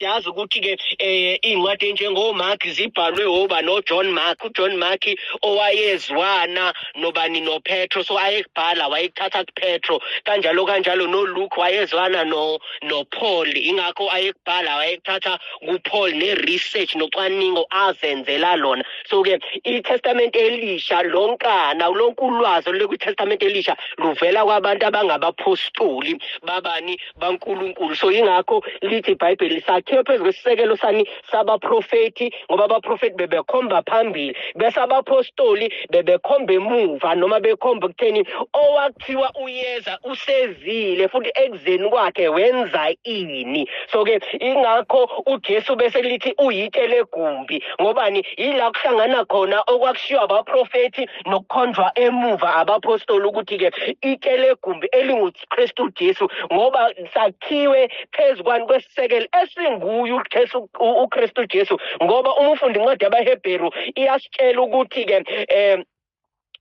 yazi ukuthi-ke um iy'ncwadi enjengomark zibhalwe oba nojohn mark ujohn mark owayezwana nobani nopetro so ayekubhala wayekuthatha kupetro kanjalo kanjalo noluke wayezwana nopaul no ingakho ayekubhala wayekuthatha kupaul ne-research nocwaningo azenzela lona so-ke itestamente elisha lonkana lonke ulwazi olulekwi-testamente elisha luvela kwabantu abangabaphostoli babani bankulunkulu so yingakho lithi ibhayibheli sakhiwe phezu kwesisekelo sani sabaprofethi ngoba abaprofethi bebekhomba phambili bese abapostoli bebekhomba emuva noma bekhomba ekutheni owakuthiwa uyeza usezile futhi ekuzeni kwakhe wenza ini so-ke ingakho ujesu bese lithi uyitshe legumbi ngobani yila kuhlangana khona okwakushiwo abaprofethi nokukhonjwa emuva abapostoli ukuthi-ke itshe legumbi elingu Kristu Jesu ngoba sakhiwe phezu kwani kwesisekelo esinguye uJesu uKristu Jesu ngoba uma ufunda incwadi yabaHebheru iyasitshela ukuthi ke eh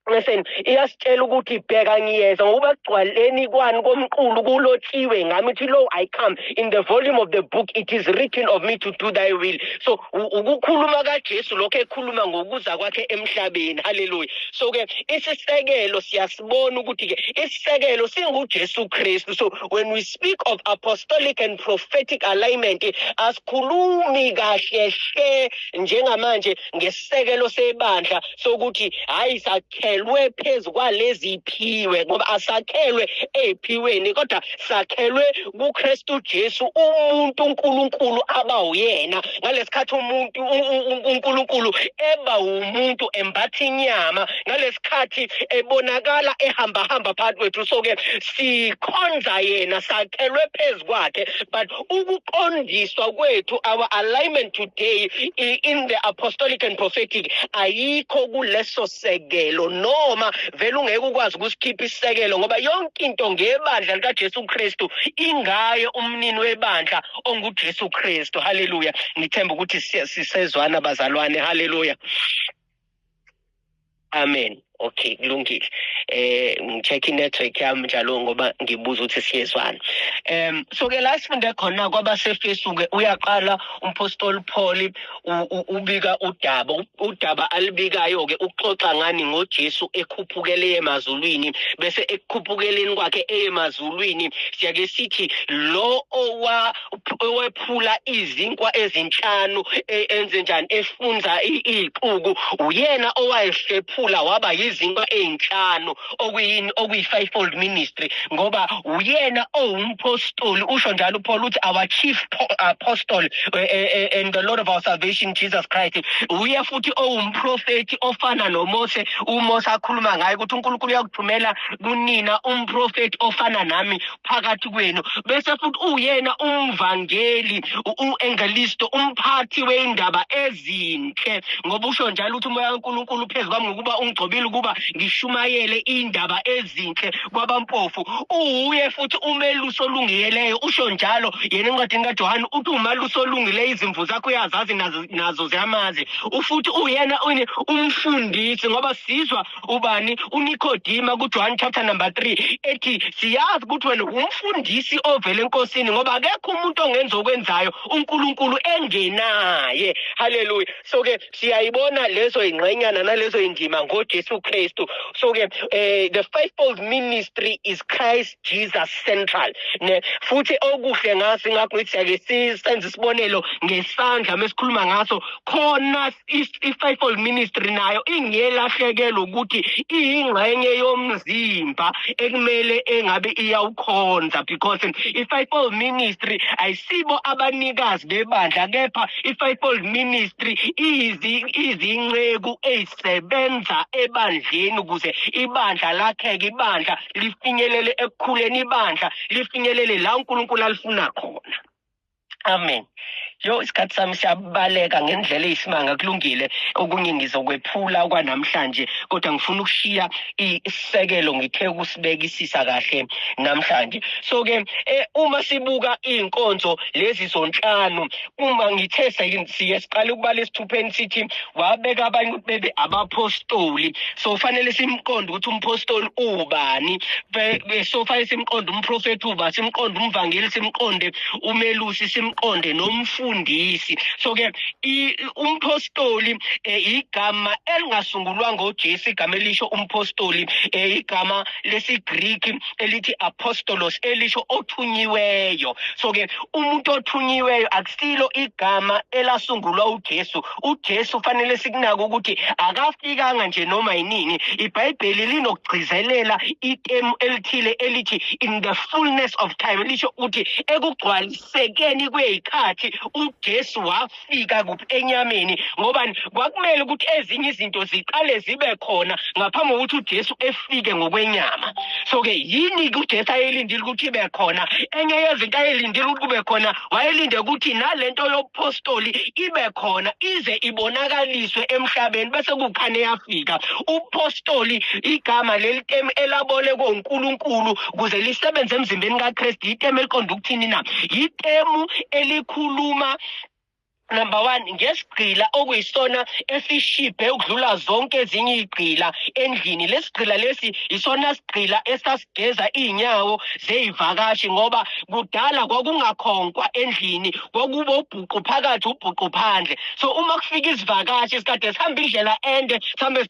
Listen, iyasitshela ukuthi bheka ngiyeza ngoba kugcwaleni kwani komqulu kulotshiwe ngami ukuthi lo I come in the volume of the book it is written of me to do thy will so ukukhuluma kaJesu lokho ekhuluma ngokuza kwakhe emhlabeni haleluya so ke isisekelo siyas bona ukuthi ke isisekelo singuJesu Kristu so when we speak of apostolic and prophetic alignment asikhulumi kahle hle njengamanje ngesisekelo sebandla sokuthi hayi sakhelwe phezu kwalezi phiwe ngoba asakhelwe eziphiweni kodwa sakhelwe kuKristu Jesu umuntu uNkulunkulu aba uyena ngalesikhathi umuntu uNkulunkulu eba umuntu embatha inyama ngalesikhathi ebonakala ehamba hamba phakathi kwethu so ke sikhonza yena sakhelwe phezukwakhe but ukuqondiswa kwethu our alignment today in the apostolic and prophetic ayikho kuleso sekelo noma vele ungeke ukwazi ukusikhipha isekelo ngoba yonke into ngebandla likaJesu Kristu ingaye umnini webandla onguJesu Kristu haleluya ngithemba ukuthi sisezwana bazalwane haleluya amen okay kulungile eh ngicheck inetwork yami njalo ngoba ngibuza ukuthi siyezwana um so ke la sifunde khona kwabasefesu ke uyaqala umpostoli Paul ubika udaba udaba alibikayo ke uxoxa ngani ngoJesu ekhuphukele emazulwini bese ekukhuphukeleni kwakhe emazulwini siyake sithi lo owa owephula izinkwa ezinhlanu e, enze njani efunza ixuku uyena owayehlephula waba yizinkwa ezinhlanu okuyini okuyi-fivefold ministry ngoba uyena owumpostoli usho njalo upaul uthi our chief apostle eh, eh, eh, and the lord of our salvation jesus christ uye futhi owumprofethi ofana nomose umose akhuluma ngaye ukuthi unkulunkulu uyakuthumela kunina umprofethi ofana nami phakathi kwenu bese futhi uyena umvangeli uengelisto umphathi weindaba ezinhle ngoba usho njalo ukuthi umoya kaNkuluNkulu phezu kwami ngokuba ungigcobile ukuba ngishumayele indaba ezinhle kwabampofu uwuye futhi umeluso olungiyeleyo usho njalo yena encwadini kaJohane uthi umaluso olungile izimvu zakho uyazazi nazo ziyamazi ufuthi uyena umfundisi ngoba sizwa ubani unikodima kujohane chapter number 3 ethi siyazi ukuthi wena umfundisi ovele enkosini ngoba akekho umuntu ongenza okwenzayo unkulunkulu engenaye haleluya so ke siyayibona lezo ingxenyana nalezo indima ngojesu kristu so ke eh, the fivefold ministry is christ jesus central ne futhi okuhle ngaso ingakho ngithi siyake senze isibonelo ngesandla mesikhuluma ngaso khona i-fivefold ministry nayo ingelahlekelo ukuthi iyingxenye yomzimba ekumele engabe iyawukhonza because i-fivefold ministry ayisibo abanikazi bebandla kepha i-fivefold ministry izinceku ezisebenza ebandleni ukuze ibandla lakheke ibandla lifinyelele ekukhuleni ibandla lifinyelele la uNkulunkulu alifuna khona amen yo isikhathi sami siyabaleka ngendlela eyisimanga kulungile okunye ngizokwephula kwanamhlanje kodwa ngifuna ukushiya isisekelo ngithe ukusibekisisa kahle namhlanje so-ke eh, uma sibuka iy'nkonzo lezi zonhlanu uma ngithe siye siqale ukubala esithupheni sithi wabeka abanye ukuthi bebe abapostoli so fanele simqonde ukuthi umpostoli ubani so fanele simqonde umprofethi uba simqonde umvangeli simqonde umelusi simqonde nomfundisi so ke umpostoli eh, igama elingasungulwa ngojesu igama elisho umpostoli eh, igama lesigreek elithi apostolos elisho othunyiweyo so ke umuntu othunyiweyo akusilo igama elasungulwa ujesu uJesu fanele sikunake ukuthi akafikanga nje noma yinini ibhayibheli linokugcizelela itemu elithile elithi in the fullness of time lisho ukuthi ekugcwalisekeni kweyikhathi uJesu wafika kuphi enyameni ngoba kwakumele ukuthi ezinye izinto ziqale zibe khona ngaphambi kokuthi uJesu efike ngokwenyama so ke yini uJesu ayelindile ukuthi ibe khona enye yezinto ayelindile ukuthi kube khona wayelinde ukuthi nalento yobuphostoli ibe khona ize ibonakaliswe emhlabeni bese kukhane yafika ubuphostoli igama lelitemu elabolekwe uNkulunkulu kuze lisebenze emzimbeni kaKristu itemu eliqonda ukuthini na yitemu elikhuluma number one ngesigqila okuyisona esishibhe ukudlula zonke ezinye igqila endlini lesigqila lesi isona sigqila esasigeza izinyawo zeyivakashi ngoba kudala kwakungakhonkwa endlini kwakubo ubhuqu phakathi ubhuqu phandle so uma kufika izivakashi isikade sihamba indlela ende sihambe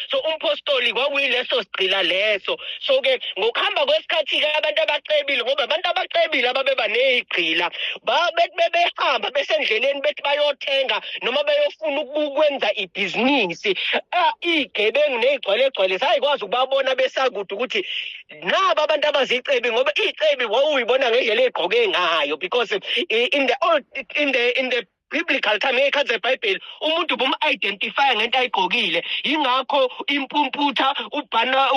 so umphostoli kwakuyileso sigqila leso so ke ngokuhamba kwesikhathi ke abantu abacebile ngoba abantu abacebile ababeba nezigqila babethi bebehamba besendleleni bethi bayothenga noma beyofuna ukwenza ibhizinisi igebengu nezigcwale gcwale sayikwazi ukubabona besakude ukuthi naba abantu abazicebi ngoba icebi wawuyibona ngendlela egqoke ngayo because in the old in the in the biblical time ngeyikhathi zebhayibheli umuntu bum-identifya ngento ayigqokile yingakho impumputha ubhana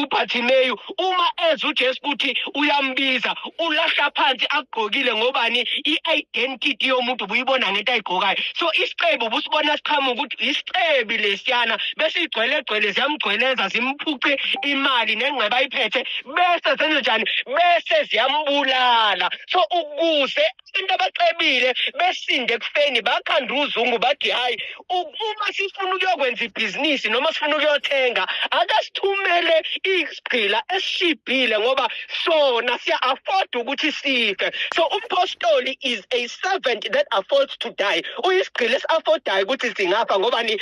ubhathimeyu uma eza ujesu ukuthi uyambiza ulahla phansi akugqokile ngobani i-identity yomuntu ubuyibona ngento ayigqokayo so isicebi ubusibona siqhamuka ukuthi yisicebi lesiyana bese igcwelegcwele ziyamgcweleza zimphuce imali nengceba ayiphethe bese zenze njani bese ziyambulala so ukuze abantu abacebile besinde ekufeni bakhanda uzungu bathi hhayi uma sifuna ukuyokwenza ibhizinisi noma sifuna ukuyothenga akasithumele isigqila esishibhile ngoba sona siya-afford ukuthi sife so umphostoli is a servant that affords to die uyisigqila esi-affordayo ukuthi singafa ngobani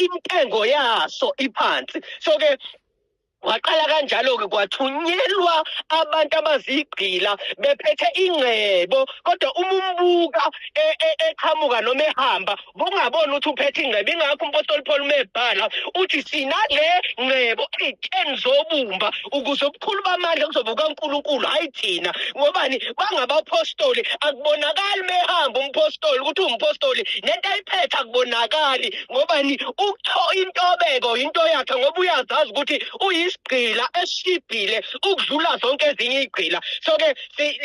intengo yaso iphansi so-ke Waqala kanjalo-ke kwathunyelwa abantu abazigqila bephethe ingcebo kodwa uma umbuka e- e- eqhamuka noma ehamba bungaboni ukuthi uphethe ingcebo ingakho umpostoli Paul mebhala uthi sinale ngcebo ey'teni zobumba ukuze ubukhulu bamandla kuzobe kukaNkulunkulu hhayi thina ngobani bangabaphostoli akubonakali mehamba umpostoli ukuthi uwumpostoli nento ayiphethe akubonakali ngobani ukutho intobeko into yakhe ngoba uyazazi ukuthi uyisigqila esishibhile ukudlula zonke ezinye igqila so ke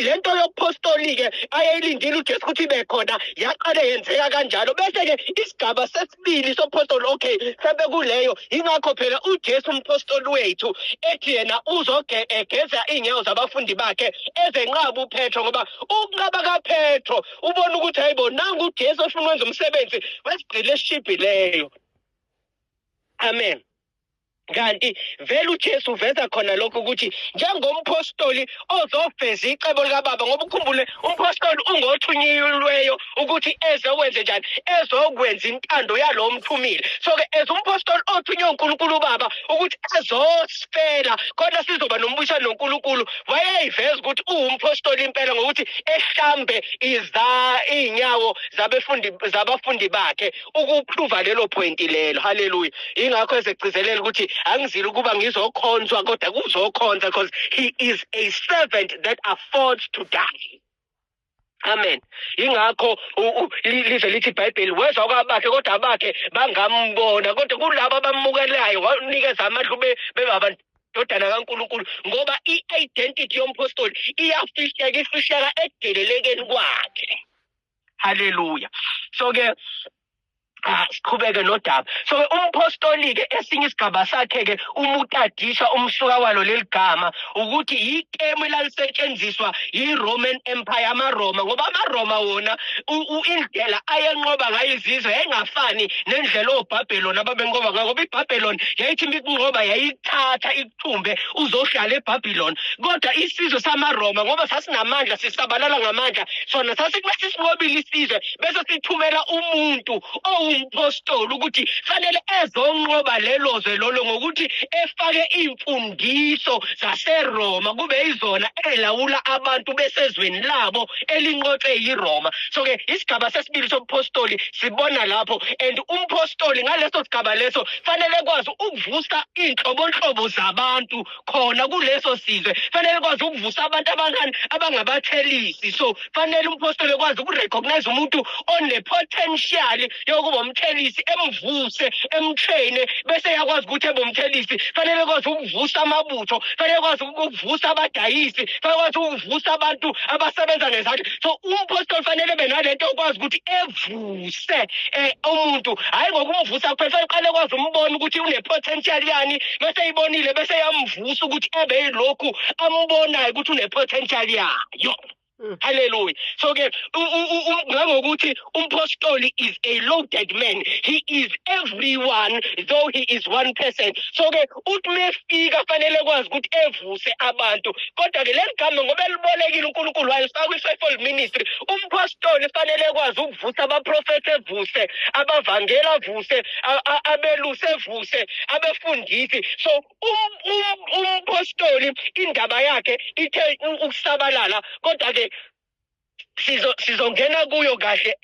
le nto yokuphostoli ke ayeyilindile uJesu ukuthi ibe khona yaqale yenzeka kanjalo bese ke isigaba sesibili sophostoli okay sembe kuleyo ingakho phela uJesu umphostoli wethu ethi yena uzogeza iy'nyawo zabafundi bakhe ezenqaba uPetro ngoba ukunqaba kaPetro ubone ukuthi hayi bo nangu ujesu ofuna ukwenza umsebenzi wesigqile esishibhileyo amen kanti vele uJesu uveza khona lokho ukuthi njengomphostoli ozoveza icebo likababa ngoba ukhumbule umphostoli ungothunyiweyo ukuthi ezokwenze njani ezokwenza intando yalowo mthumile so-ke as umphostoli othunywe unkulunkulu ubaba ukuthi azos sicela khona sizoba nombuyisano noNkulunkulu wayeyiveza ukuthi uwumphostoli impela ngokuthi ehlambe iza izinyawo zabefundi zabafundi bakhe ukuprova lelo point lelo haleluya ingakho ezegcizelela ukuthi angizile ukuba ngizokhonzwa kodwa kuzokhonza because he is a servant that affords to die amen ingakho lize lithi ibhayibheli weza kwabakhe kodwa abakhe bangambona kodwa kulabo abamukelayo wanikeza amandla ube bengabantu ndodana kaNkuluNkulu ngoba i-identity yomphostoli iyafihleka ifihleka ekudelelekeni kwakhe haleluya so-ke Ah, siqhubeke nodaba so ke umpostoli ke esinye isigaba sakhe ke umutadisha umsuka walo leligama ukuthi yikemu elalisetshenziswa yiRoman Empire amaRoma ngoba amaRoma wona indlela ayenqoba ngayo izizwe yayingafani nendlela oBabylon ababenqoba ngayo ngoba iBabylon yayithi mikunqoba yayithatha thumbe uzohlala eBabylon kodwa isizwe samaRoma ngoba sasinamandla sisabalala ngamandla sona sasikumele sinqobile isizwe bese sithumela umuntu owumpostoli ukuthi fanele ezonqoba lelo zwe lolo ngokuthi efake imfundiso zaseRoma kube izona elawula abantu besezweni labo elinqotshwe yiRoma so ke isigaba sesibili sobuphostoli sibona lapho and umpostoli ngaleso sigaba leso fanele kwazi ukuvusa iy'nhlobonhlobo zabantu khona kuleso sizwe fanele kwazi ukuvusa abantu abankani abangabathelisi so fanele umphostoli ekwazi ukurecognize umuntu onepotential yokuba umthelisi emvuse emtraine bese yakwazi ukuthi ebe umthelisi fanele kwazi ukuvusa amabutho fanele kwazi ukuvusa abadayisi fanele kwazi ukuvusa abantu abasebenza ngezandla so umphostoli fanele benalento okwazi ukuthi evu uvuse eh, umuntu hhayi ngokumvusa kuphela seqale kwazi umbona ukuthi une-potential yani bese ibonile bese yamvusa ukuthi ebe yilokhu ambonayo ukuthi une-potential yayo Mm. Hallelujah. So ke ngangokuthi umpostoli is a loaded man. He is everyone though he is one person. So ke uthi mefika fanele kwazi ukuthi evuse abantu kodwa ke leligama ngoba elibolekile uNkulunkulu walifaka kwi-fivefold ministry umphostoli fanele kwazi ukuvusa abaprofethi evuse abavangeli avuse abelusi evuse abefundisi so um, um, umphostoli indaba yakhe ithe ukusabalala kodwa ke sizo sizongena kuyo kahle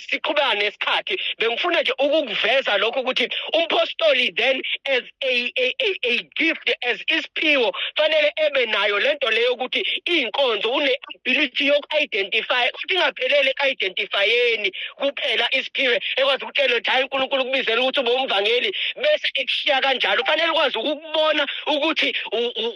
siqhubane isikhathi bengifuna nje ukukuveza lokho ukuthi umpostoli then as a, a, a, a gift as isiphiwo fanele ebe nayo lento leyo ukuthi inkonzo une ability yoku-identify ukuthi ingaphelele ku-identifyeni kuphela isiphiwe ekwazi ukutshela ukuthi hayi uNkulunkulu kubizela ukuthi ube umvangeli bese ekushiya kanjalo fanele ukwazi ukubona ukuthi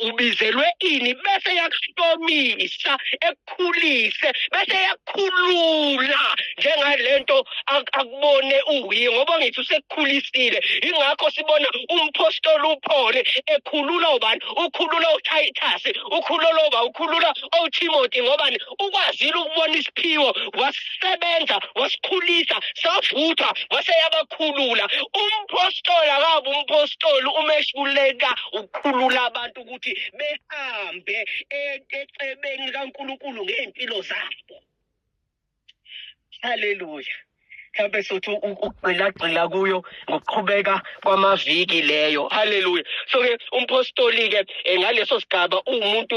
ubizelwe ini bese yakuhlomisa ekukhulise bese yakukhulula njengalento akubone unguye ngoba ngithi usekukhulisile ingakho sibona umpostoli uphole ekhulula ubani ukhulula uTitus ukhulula uba ukhulula oTimothy ngobani ukwazile ukubona isiphiwo wasisebenza wasikhulisa savuthwa wase yabakhulula umpostoli akabe umpostoli uma ehluleka ukukhulula abantu ukuthi behambe e-, ecebeni likaNkulunkulu ngey'mpilo zabo haleluya mhlawumbe sothi ukugxilagxila kuyo ngokuqhubeka kwamaviki leyo haleluya so-ke umphostoli-ke eh, ngaleso sigaba uwumuntu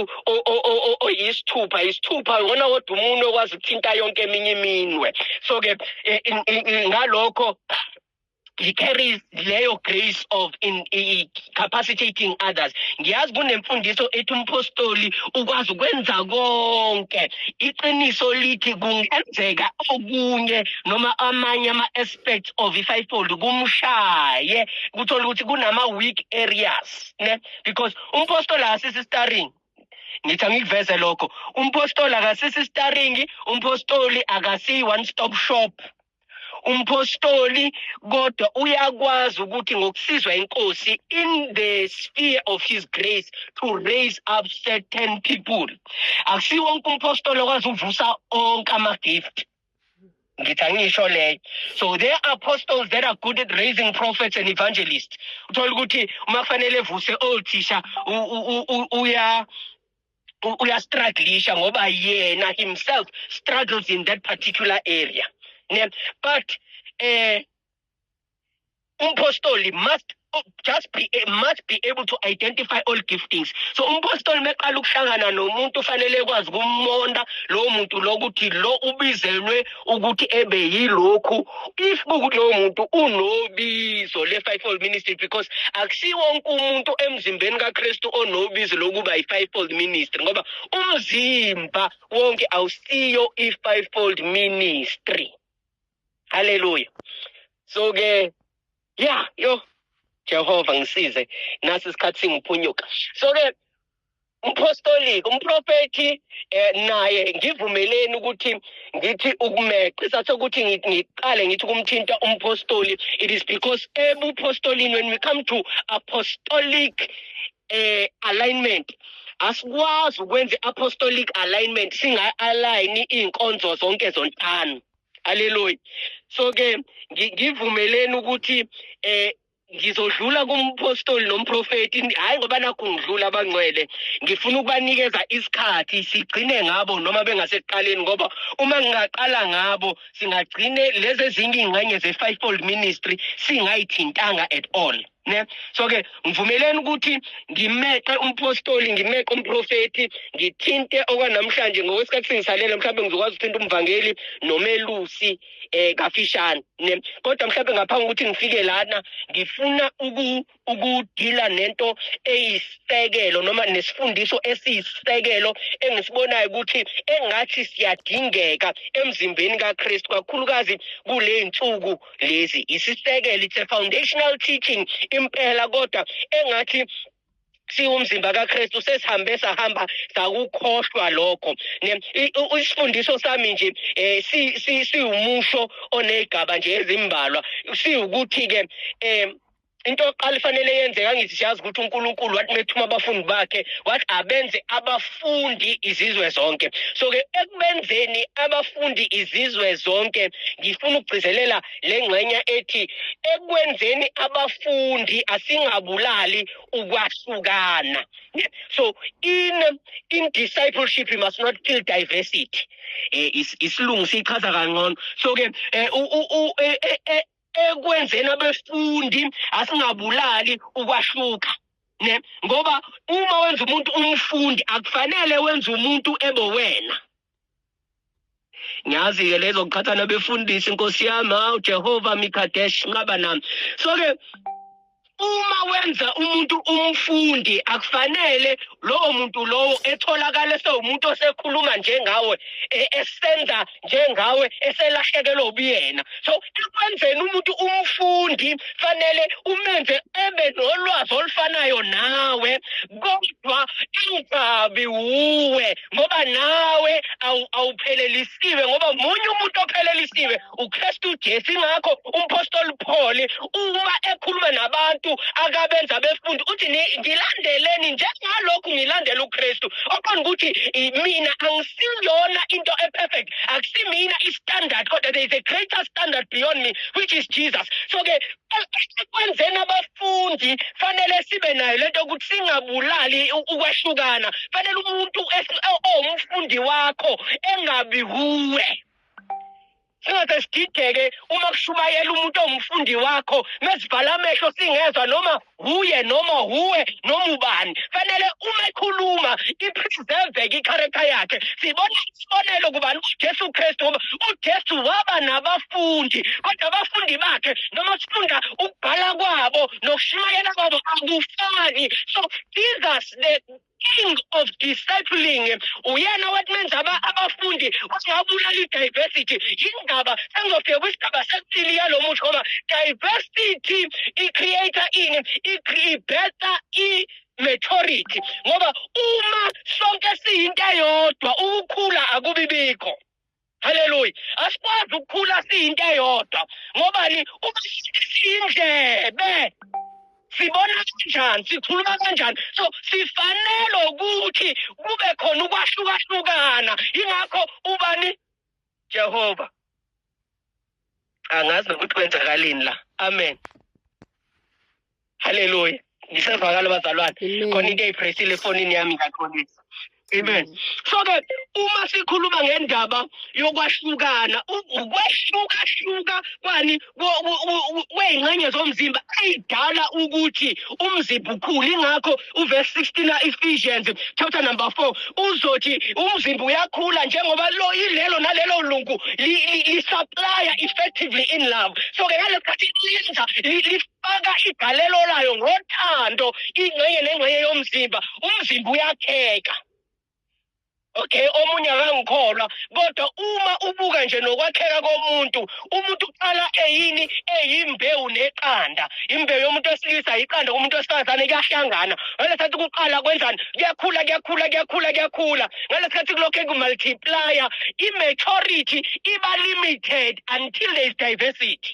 oyisithupha isithupha ngona kodwa umuntu okwazi ukuthinta yonke eminye iminwe so-ke eh, ngalokho he carries leyo grace of in, in capacitating others ngiyazi kunemfundiso ethi umpostoli ukwazi ukwenza konke iqiniso lithi kungenzeka okunye noma amanye ama-aspects of i-fivefold kumshaye kuthola ukuthi kunama-weak areas ne because umpostoli akasisi starring ngithi angikuveze lokho umpostoli akasisi starring umpostoli akasiyi one stop shop umphostoli kodwa uyakwazi ukuthi ngokusizwa inkosi in the sphere of his grace to raise up certain people akusiwo wonke umphostoli okwazi ukuvusa onke ama-gift ngithi angisho leyo so there are apostles that are good at raising prophets and evangelists uthole ukuthi uma kufanele evuse othisha uya uyastruglisha ngoba yena himself struggles in that particular area ne but eh umpostoli must just be must be able to identify all giftings so umpostoli meqala ukuhlangana nomuntu ufanele ekwazi ukumonda lowo muntu lokuthi lo ubizelwe ukuthi ebe yilokhu if kukuthi lowo muntu unobizo le-fivefold ministry because akusiwo wonke umuntu emzimbeni kakristu onobizo lokuba yi-fivefold ministry ngoba umzimba wonke awusiyo i-fivefold ministry haleluya so-ke ya yo jehova ngisize nasi isikhathi singiphunyuka so-ke umphostoliki umprofethi eh, naye ngivumeleni ukuthi ngithi ukumeqe sasokuthi ngiqale ngithi kumthinta umphostoli it is because ebuphostolini when we come to apostolic eh, alignment asikwazi ukwenza apostolic alignment singa-align iy'nkonzo zonke zontano haleluya so-ke ngivumeleni ukuthi um ngizodlula kumphostoli nomprofeti hhayi ngoba nakhu ngidlula abangcwele ngifuna ukubanikeza isikhathi sigcine ngabo noma bengasekuqaleni ngoba uma ngingaqala ngabo singagcine lezi ezinye iy'ngxenye ze-fivefold ministry singayithintanga at all ne so ke ngivumeleni ukuthi ngimeqe umphostoli ngimeqe umprofeti ngithinte okwanamhlanje ngokwesikhathi singisalele mhlawumbe ngizokwazi ukuthinta umvangeli nomelusi eh kafishane ne kodwa mhlawumbe ngaphambi ukuthi ngifike lana ngifuna uku ukudila nento eyisekelo noma nesifundiso esiyisekelo engisibonayo ukuthi engathi siyadingeka emzimbeni kaKristu kakhulukazi kule nsuku lezi isisekelo it's a foundational teaching impela kodwa engathi siwumzimba kaKristu sesihambe sahamba sakukhohlwa lokho isifundiso sami nje eh siwumusho onezigaba nje ezimbalwa siwukuthi ke eh into oqala ifanele yenzeka ngithi siyazi ukuthi uNkulunkulu wathi methuma abafundi bakhe wathi abenze abafundi izizwe zonke so ke ekubenzeni abafundi izizwe zonke ngifuna ukugcizelela le ngxenya ethi ekwenzeni abafundi asingabulali ukwahlukana so in in discipleship you must not kill diversity eh, isilungu sichaza kangcono so ke eh, eh, eh, eh ekwenzeni abefundi asingabulali ukwahluka ne ngoba uma wenza umuntu umfundi akufanele wenze umuntu ebe wena ngiyazi ke lezo qhathana befundisi inkosi yami hawu Jehova mikadesh nqaba nami so ke uma wenza umuntu umfundi akufanele lowo muntu lowo etholakala esewumuntu osekhuluma njengawe e, esenza njengawe eselahlekelwe ubuyena so ekwenzeni umuntu umfundi fanele umenze ebe nolwazi olufanayo nawe kodwa ingabi wuwe ngoba nawe awuphelelisiwe ngoba munye umuntu ophelelisiwe uKristu uJesu ingakho umpostoli Paul uma ekhuluma nabantu akabenza befundi uthi ngilandeleni njengalokhu ngilandela uKristu oqonda ukuthi mina angisiyona into eperfect akusimina istandard kodwa there is a greater standard beyond me which is Jesus so ke ekwenzeni abafundi fundi fanele sibe nayo lento ukuthi singabulali ukwehlukana fanele umuntu owumfundi wakho engabi kuwe singaze sidideke uma kushumayela umuntu owumfundi wakho mesivala amehlo singezwa noma huye noma huwe noma ubani fanele uma ekhuluma i-preserveke i-character yakhe sibona isibonelo kubani uJesu Kristu ngoba uJesu waba nabafundi kodwa abafundi bakhe noma sifunda ukubhala kwabo nokushumayela kwabo akufani so Jesus the king of discipling uyena wathi menza abafundi wangabulala i-diversity yindaba sengizofika kwisigaba sesibili yalo musho ngoba diversity i-creator ini i-better i majority ngoba uma sonke siyinto eyodwa ukukhula akubi bikho haleluya asikwazi ukukhula siyinto eyodwa ngobani uma siyindlebe sibona kanjani sikhuluma kanjani so sifanele ukuthi kube khona ukwahlukahlukana ingakho ubani jehova angazi nokuthi kwenzakalini la amen haleluya ngisevakala bazalwane khona into eyiphresile efonini yami ngaxolisa amen mm. so ke uma sikhuluma ngendaba yokwahlukana ukwashukashuka kwani kwey'ngxenye zomzimba ey'dala ukuthi umzimba ukhule ingakho uvesi 16 ka-ephesians chapter number 4 uzothi umzimba uyakhula njengoba lo ilelo nalelo lungu lisaplaya effectively in love so-ke ngale sikhathi lenza lifaka igalelo layo ngothando ingxenye nengxenye yomzimba umzimba uyakheka okay omunye akangikholwa kodwa uma ubuka nje nokwakheka komuntu umuntu uqala eyini eyimbewu neqanda imbewu yomuntu wesilisa yiqanda kumuntu wesifazane kuyahlangana ngalesikhathi kuqala kwenzani kuyakhula kuyakhula kuyakhula kuyakhula ngalesikhathi kulokhu kumultiplier i-maturity iba limited until there is diversity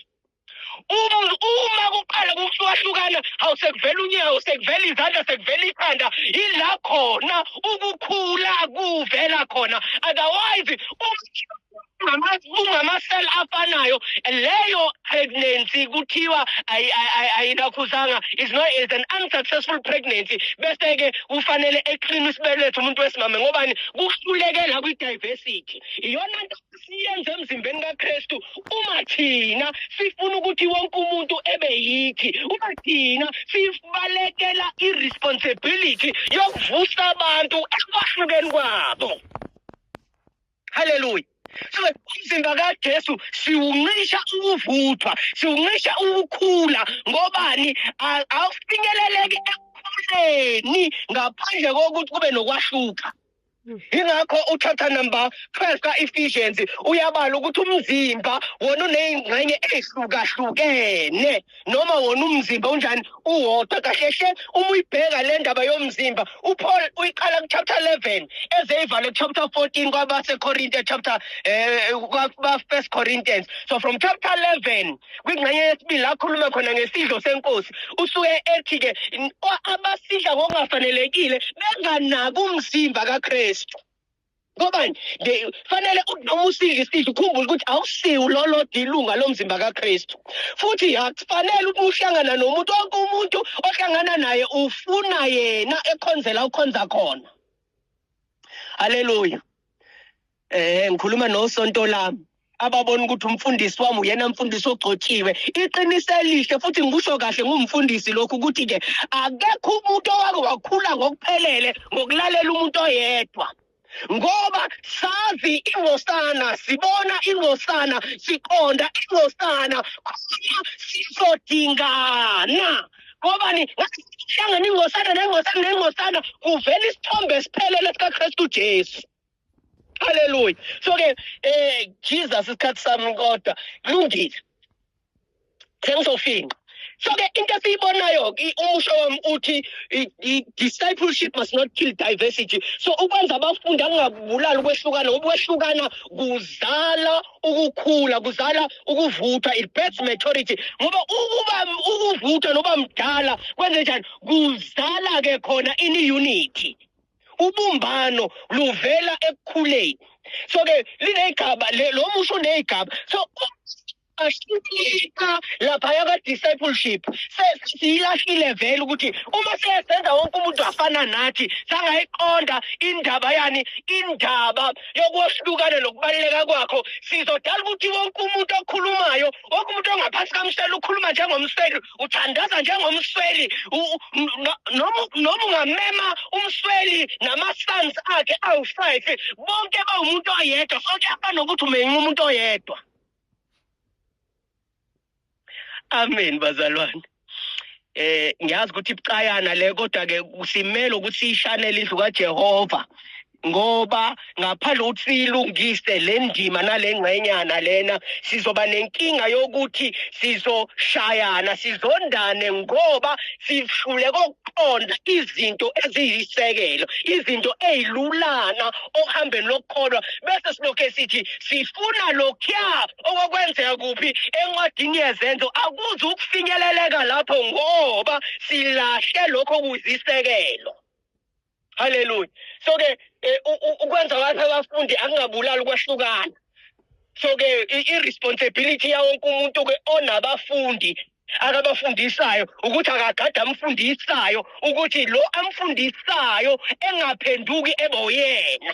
uma uma kuqala kuhlukahlukana hawu sekuvela unyawo sekuvela izandla sekuvela ikhanda yila khona ukukhula kuvela khona otherwise ungamasela afanayo leyo pregnancy kuthiwa ayinakhuzanga is not is an unsuccessful pregnancy bese ke kufanele eqinisa isibeletho umuntu wesimame ngobani kuhlulekela kwi diversity iyona nto siyenze emzimbeni kaKristu uma thina sifuna ukuthi wonke umuntu ebe yithi uma thina sibalekela iresponsibility yokuvusa abantu ekwahlukeni kwabo haleluya so umzimba kaJesu siwuncisha ukuvuthwa siwuncisha ukukhula ngobani awufinyeleleki ekukhuleni ngaphandle kokuthi kube nokwahluka yingakho uchapter number 12 ka-ephesians uyabala ukuthi umzimba wona uneyingxenye eyihlukahlukene noma wona umzimba unjani uwodwa kahlehle uma uyibheka le ndaba yomzimba upaul uyiqala kuchapter 11 ezeyivale kuchapter 14 kwabasekorinte chapter um eh, kwabafirst corinthians so from chapter 11 kwingxenye yesibili la akhuluma khona ngesidlo senkosi usuke ethi-ke abasidla ngokungafanelekile benganaki umzimba kakristu ngobani fanele noma usidla isidlo ukhumbule ukuthi awusiwu lolo dilunga lomzimba kakristu futhi akufanele ukuthi uhlangana nomuntu wonke umuntu ohlangana naye ufuna yena ekhonzela ukhonza khona haleluya Eh ngikhuluma nosonto lami ababona ukuthi umfundisi wami uyena mfundisi ogcotshiwe iqiniso elihle futhi ngikusho kahle ngumfundisi lokhu ukuthi ke akekho umuntu owake wakhula ngokuphelele ngokulalela umuntu oyedwa ngoba sazi ingosana sibona ingosana siqonda ingosana khona sizodingana ngobani ngahlangana ingosana nengosana nengosana kuvela isithombe esiphelele sikaKristu Jesu haleluya so ke eh jesus isikhathi sami kodwa kulungile sengizofinqa so ke into esiyibonayo umusho wami uthi discipleship must not kill diversity so ukwenza abafundi angabulali ukwehlukana ukwehlukana kuzala ukukhula kuzala ukuvutha it births maturity ngoba ukuba ukuvutha noba mdala kwenze njani kuzala ke khona ini unity ubumbano luvela ekukhuleni so ke linegaba lo musho unegaba so ashintshika laphaya ka-discipleship sesiyilahlile vele ukuthi uma sesenza wonke umuntu afana nathi sangayiqonda indaba yani indaba yokwehlukana nokubaluleka kwakho sizodala ukuthi wonke umuntu okhulumayo wonke umuntu ongaphansi kamselo ukhuluma njengomselo uthandaza njengomsweli noma ungamema umsweli nama-sons akhe awu-five bonke bawumuntu oyedwa so kuyafana nokuthi umenye umuntu oyedwa amen bazalwane eh ngiyazi ukuthi ibucayana le kodwa ke simele ukuthi sishanele indlu kaJehova ngoba ngaphandle ukuthi siyilungise le ndima nale ngxenyana lena sizoba nenkinga yokuthi sizoshayana sizondane ngoba sihlule kokuqonda izinto eziyisekelo izinto ezilulana okuhambeni lokukholwa bese silokhe sithi sifuna lokhuya okwakwenzeka kuphi encwadini yezenzo akuze ukufinyeleleka lapho ngoba silahle lokho kuzisekelo Hallelujah. So ke eh, ukwenza kwakhe abafundi akungabulali ukwahlukana. So ke i-responsibility yawo wonke umuntu ke onabafundi akabafundisayo ukuthi akagade amfundisayo ukuthi lo amfundisayo engaphenduki ebe uyena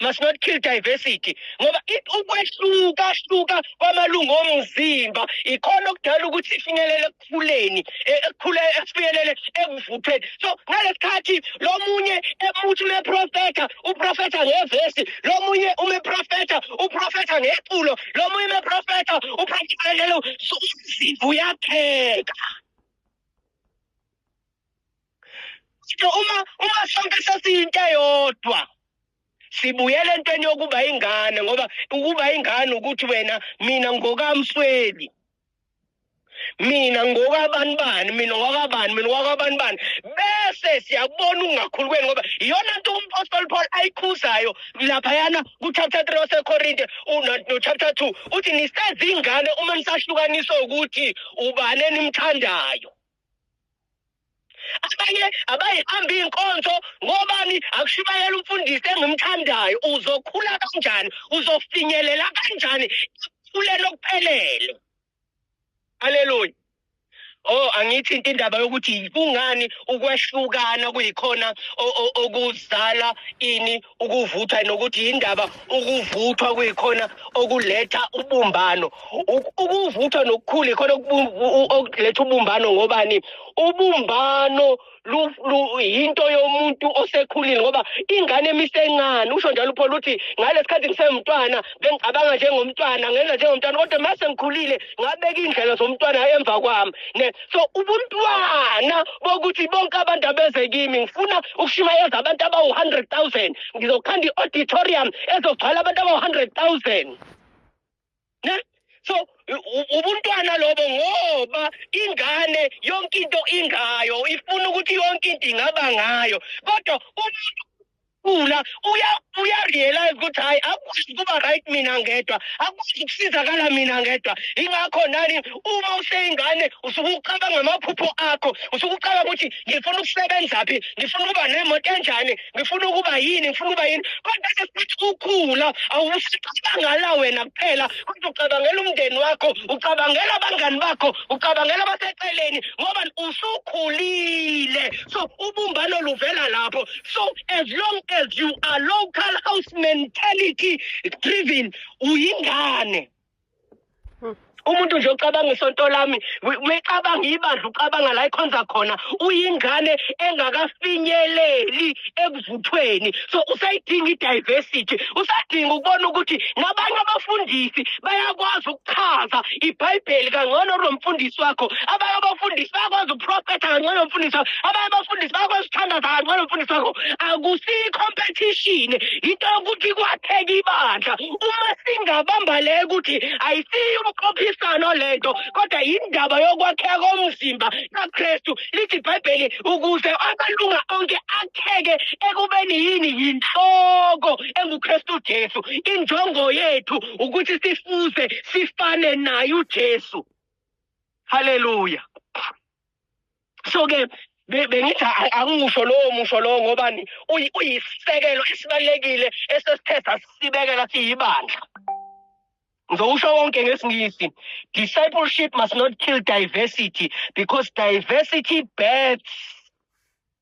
must not kill diversity ngoba ukwehlukahluka kwamalungu omzimba ikhona okudala ukuthi ifinyelele ekukhuleni e, ekukhule esifinyelele ekuvuthweni so ngalesikhathi lo munye emuthi umeprofetha uprofetha ngevesi lo munye umeprofetha uprofetha ngeculo lo munye umeprofetha uprofetha ngeculo so umzimba uyapheka so uma uma sonke sesiyinto eyodwa sibuyela entweni yokuba ingane ngoba ukuba ingane ukuthi wena mina ngokamsweli mina ngokabani bani mina ngokwabani mina ngokwabani bani bese siyabona ungakhulukweni ngoba iyona nto umpostoli paul ayikhuzayo laphayana kuchapter three wasekorinte nochapter two uthi nisezingane uma nisahlukaniswa ukuthi ubani enimthandayo abanye abayihamba iy'nkonzo ngobani akushubayela umfundisi engimthandayo uzokhula kanjani uzofinyelela kanjani ekukhuleni okuphelele aleluya Oh angithi into indaba yokuthi kungani ukwehlukana kuyikhona okuzala ini ukuvuthwa nokuthi yindaba ukuvuthwa kuyikhona okuletha ubumbano ukuvuthwa nokukhulu ikhona okuletha ubumbano ngobani ubumbano yinto yomuntu osekhulile ngoba ingane emisencane usho njalo upholo ukuthi ngalesi khathi ngisemntwana bengicabanga njengomntwana ngenza njengomntwana kodwa uma sengikhulile ngabeka iy'ndlela zomntwana emva kwami so ubuntwana bokuthi bonke abantu abeze kimi ngifuna ukushumayeza abantu abawu-hundred thousand ngizokhanda i-auditorium ezogcwala abantu abawu-hundred thousand ne so ubuntwana lobo ngoba ingane yonke into ingayo ifuna ukuthi yonke into ingaba ngayo kodwa umuntu Ula uya uya realize ukuthi hayi akwazi ukuba right mina ngedwa akwazi ukusizakala mina ngedwa ingakho nani uma useyingane usuke ucabanga amaphupho akho usuke ucabanga ukuthi ngifuna ukusebenza phi ngifuna ukuba nemoto enjani ngifuna ukuba yini ngifuna ukuba yini kodwa sesithi ukhula awusicabangala wena kuphela kodwa ucabangela umndeni wakho ucabangela abangani bakho ucabangela abaseceleni ngoba usukhulile so ubumbano luvela lapho so as long as you are local house mentality driven uyingane hmm. umuntu nje ocabanga isonto lami mecabanga ibandla ucabanga la ikhonza khona uyingane engakafinyeleli ekuvuthweni so usayidinga i-diversity usadinga ukubona ukuthi nabanye abafundisi bayakwazi ukuchaza ibhayibheli kangcono nomfundisi wakho abanye abafundisi bayakwazi uprofetha kangcono nomfundisi wakho abanye abafundisi bakwesithandaza kancane umfundisi wakho akusiyi competition into yokuthi kwatheka ibandla uma singabamba le ukuthi ayisiyi umqophisano le nto kodwa yindaba yokwakheka komzimba kakristu lithi ibhayibheli ukuze amalunga onke akheke ekubeni yini yinhloko engukristu jesu injongo yethu ukuthi sifuze sifane naye ujesu haleluya so ke bengithi angimusho lowo musho lowo ngobani uyisisekelo esibalulekile esesithe sasibekela siyibandla ngizowusho wonke ngesingisi discipleship must not kill diversity because diversity births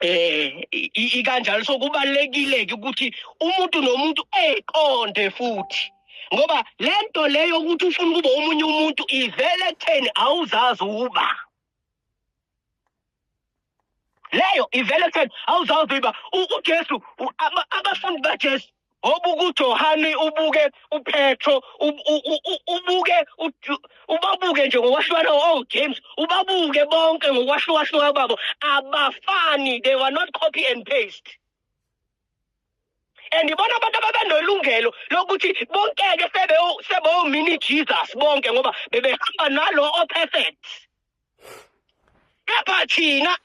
eh ikanjalo so kubalekile ke ukuthi umuntu nomuntu eqonde futhi ngoba lento leyo ukuthi ufuna ukuba umunye umuntu ivele kutheni awuzazi uba leyo ivele kutheni awuzazi uba uJesu abafundi baJesu Ngoba ukuJohane ubuke uPetro ubuke ubabuke nje ngokwahlukana oh James ubabuke bonke ngokwahlukahluka babo abafani they were not copy and paste and ibona abantu ababenolungelo lokuthi bonkeke sebe sebewomini Jesus bonke ngoba bebehamba nalo o perfect kepha thina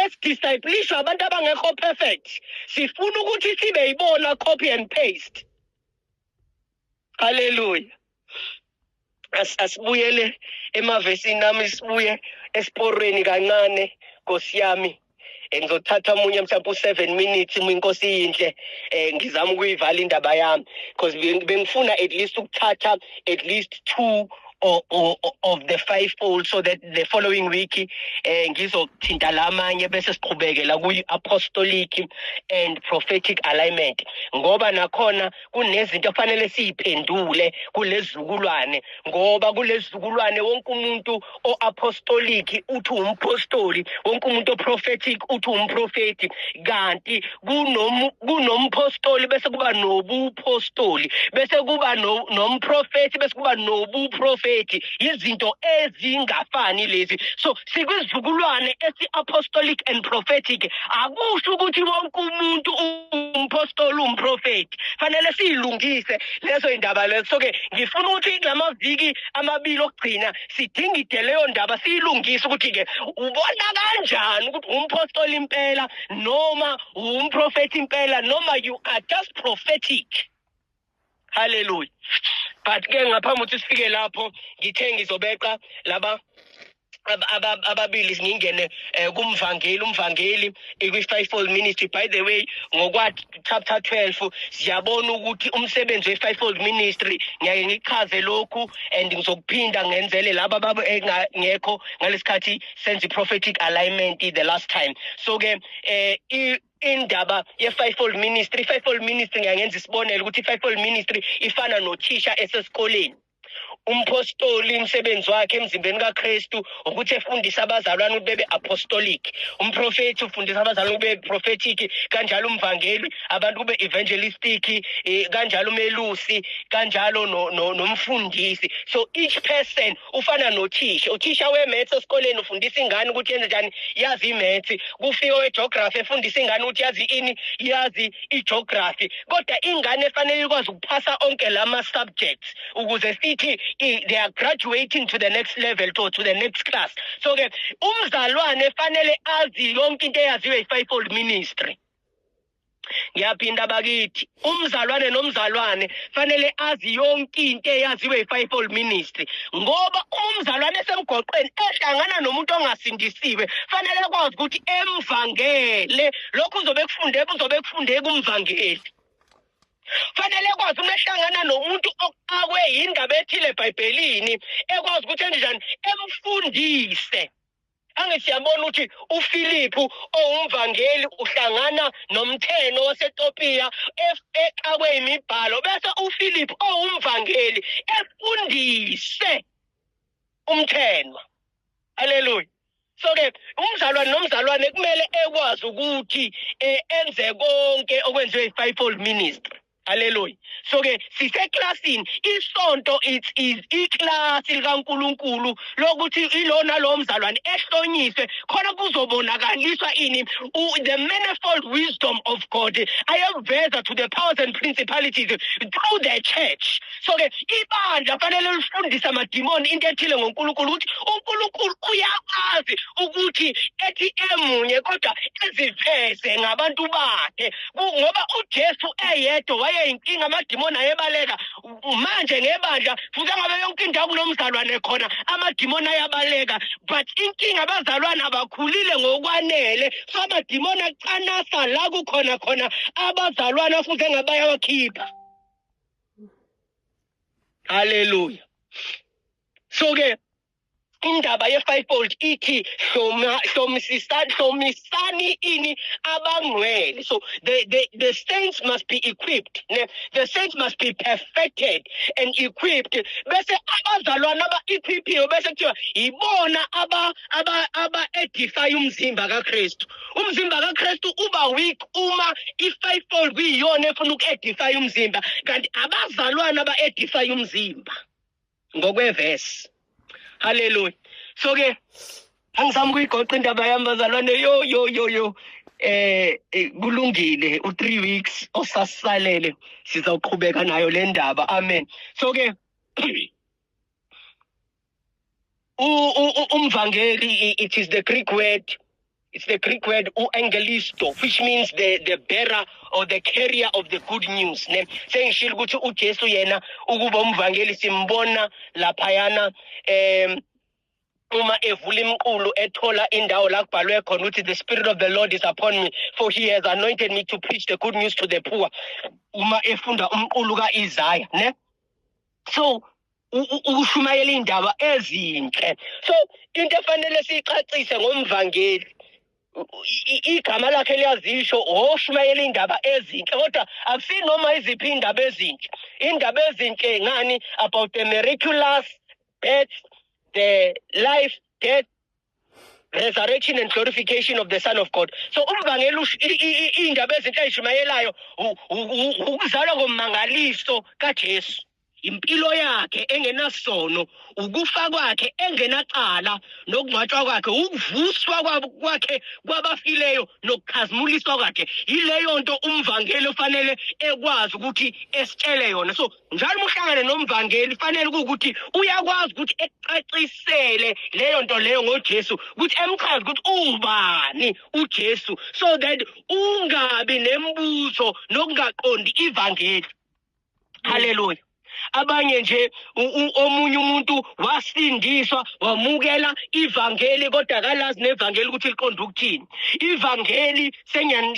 esidisciplishwa abantu abangekho perfect sifuna ukuthi sibe yibona copy and paste haleluya asibuyele emavesini nami sibuye esiporweni kancane nkosi yami eh, ngizothatha omunye mhlawumbe u-seven minutes uma inkosi iyinhle um ngizama ukuyivala indaba yami because bengifuna at least ukuthatha at least two or, or, of the five fold so that the following week eh ngizothinta lamanye bese siqhubekela kuyi apostolic and prophetic alignment ngoba nakhona kunezinto okufanele siyiphendule kulezizukulwane ngoba kulezizukulwane wonke umuntu oapostolic uthi umpostoli wonke umuntu oprophetic uthi umprofeti kanti kunompostoli bese kuba nobupostoli bese kuba nomprofeti bese kuba nobuprofeti izinto ezingafani lezi so sikwisizukulwane esi-apostolic and prophetic akusho ukuthi wonke umuntu umpostoli umprofethi fanele siyilungise lezo yindaba lezo so-ke ngifuna ukuthi kula maviki amabili okugcina sidingide leyo ndaba siyilungise ukuthi-ke ubona kanjani ukuthi umpostoli impela noma umprofethi impela noma you are just prophetic haleluya but ke ngaphambi ukuthi sifike lapho ngithe ngizobeqa laba ababili ngingene eh, kumvangeli umvangeli ikwi-fivefold ministry by the way ngokwa-chapter 12 siyabona ukuthi umsebenzi we-fivefold ministry ngiyaye ngichaze lokhu and ngizokuphinda ngenzele laba baba engekho ngalesikhathi senza i-prophetic alignment the last time so-ke um indaba ye-fivefold ministry i-fivefold ministry ngiyangenza isibonelo ukuthi i-fivefold ministry ifana nothisha esesikoleni umphostoli umsebenzi wakhe emzimbeni kaKristu ukuthi efundise abazalwane ukuthi bebe apostolic umprofeti ufundisa abazalwane kube prophetic kanjalo umvangeli abantu kube evangelistic eh, kanjalo umelusi kanjalo nomfundisi so each person ufana nothisha uthisha we-maths esikoleni ufundisa ingane ukuthi yenze njani yazi i-maths kufika owe-geography efundisa ingane ukuthi yazi ini yazi i-geography kodwa ingane efanele ikwazi ukuphasa onke la ma-subjects ukuze sithi they are graduating to the next level to, to the next class so-ke umzalwane efanele azi yonke into eyaziwe yi-fivefold ministry ngiyaphinda bakithi umzalwane nomzalwane fanele azi yonke into eyaziwe yi-fivefold ministry ngoba uma umzalwane esemgoqweni ehlangana nomuntu ongasindisiwe fanele kwazi ukuthi emvangele lokhu uzobe kufunde kuzobe kufunde kumvangeli fanele kwazi uma ehlangana nomuntu oqakwe yindaba ethile ebhayibhelini ekwazi ukuthi enjani emfundise Ange siyabona ukuthi uFiliphu owumvangeli uhlangana nomtheno waseTopiya exakwe imibhalo bese uFiliphu owumvangeli efundise umthenwa. Haleluya. so ke umzalwane nomzalwane kumele ekwazi ukuthi eh, enze konke okwenziwe i-fivefold ministry Hallelujah. So ke siseklasini isonto it is iclass likaNkuluNkulu lokuthi ilona lo mzalwane ehlonyiswe khona kuzobonakaliswa ini the manifold wisdom of God ayeveza to the powers and principalities through the church. So ke ibandla fanele lifundise amadimoni into ethile ngoNkulunkulu ukuthi uNkulunkulu uyakwazi ukuthi ethi emunye kodwa eziveze ngabantu bakhe ngoba uJesu eyedwa wayeyinkinga amadimoni ayebaleka manje ngebandla futhi angabe yonke indawo kunomzalwane khona amadimoni ayabaleka but inkinga abazalwane abakhulile ngokwanele so amadimoni acanasa la kukhona khona abazalwane afuze ngabayawakhipha haleluya so-ke indaba ye-fivefold ithi hlomisani ini abangcwele so the, the, the saints must be equipped ne? the saints must be perfected and equipped bese abazalwana aba-equiphiwe bese kuthiwa yibona aba-edifaya aba, aba umzimba kakristu umzimba kakristu uba weak uma i-fivefold kuyiyona efuna uku-edifaya umzimba kanti abazalwana aba-edifaya umzimba ngokwevesi haleluya so ke angizama ukuyigoqa indaba yami bazalwane yo yo yo yo eh, eh kulungile u3 weeks osasalele sizawuqhubeka nayo le ndaba amen so ke umvangeli it is the greek word It's the Greek word uangelisto which means the the bearer or the carrier of the good news ne sengishilo ukuthi uJesu yena ukuba umvangeli simbona laphayana um uma evula imqulu ethola indawo la kubhalwe khona ukuthi the spirit of the lord is upon me for he has anointed me to preach the good news to the poor uma efunda umqulu ka-isaya ne so ukushumayela indaba ezinhle so into efanele siyixhacise ngomvangeli igama lakhe liyazisho oshumayela indaba ezinhle kodwa akusinoma iziphi indaba ezinhle indaba ezinhle ngani about the miraculous death the life death resurrection and glorification of the son of god so umbangela iy'ndaba ezinhle ayishumayelayo ukuzalwa kommangaliso kajesu impilo yakhe engenasono ukufa kwakhe engenacala nokungcwatshwa kwakhe ukuvuswa kwakhe kwabafileyo nokukhazimuliswa kwakhe yileyo nto umvangeli ofanele ekwazi ukuthi esitshele yona so njalo uma uhlangane nomvangeli fanele ukuthi uyakwazi ukuthi ekucacisele leyo nto leyo ngoJesu ukuthi emchaze ukuthi ubani uJesu so that ungabi nembuzo nokungaqondi ivangeli haleluya abanye nje omunye umuntu wasindiswa wamukela ivangeli kodwa kalazi nevangeli ukuthi liqonda ukuthini ivangeli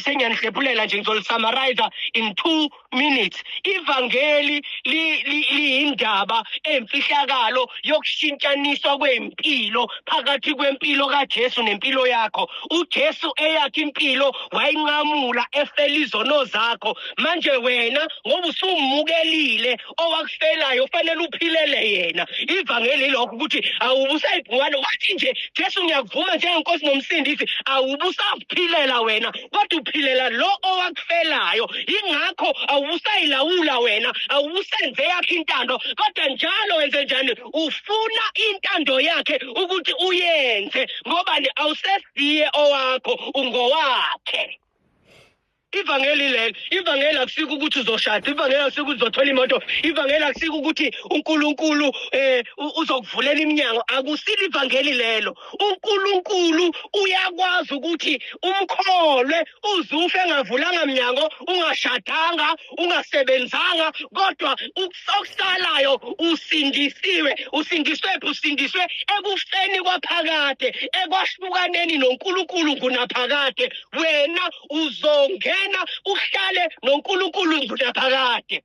sengiyanihlephulela nje ngizolisamariza in two minutes ivangeli liyindaba emfihlakalo yokushintshaniswa kwempilo phakathi kwempilo kaJesu nempilo yakho uJesu eyakhe impilo wayinqamula efela izono zakho manje wena ngoba usumukelile owakufelayo fanele uphilele yena ivangeli lokho ukuthi awubusayibhungane wathi nje Jesu ngiyakuvuma njengenkosi nomsindisi awubusaphilela wena kodwa uphilela lo owakufelayo ingakho awusayilawula wena awusenze yakhe intando kodwa njalo wenze njani ufuna intando yakhe ukuthi uyenze ngoba ni awusesiye owakho ungowakhe ivangeli lelo ivangeli akusike ukuthi uzoshada ivangeli akusike ukuthi uzothola imoto ivangeli akusike ukuthi unkulunkulu um uzokuvulela iminyango akusile ivangeli lelo uNkulunkulu uyakwazi ukuthi umkholwe uzufe engavulanga mnyango ungashadanga ungasebenzanga kodwa okusalayo usindisiwe usindiswe phi usindiswe ekufeni kwaphakade ekwahlukaneni noNkulunkulu ngunaphakade wena uzongena uhlale noNkulunkulu ngunaphakade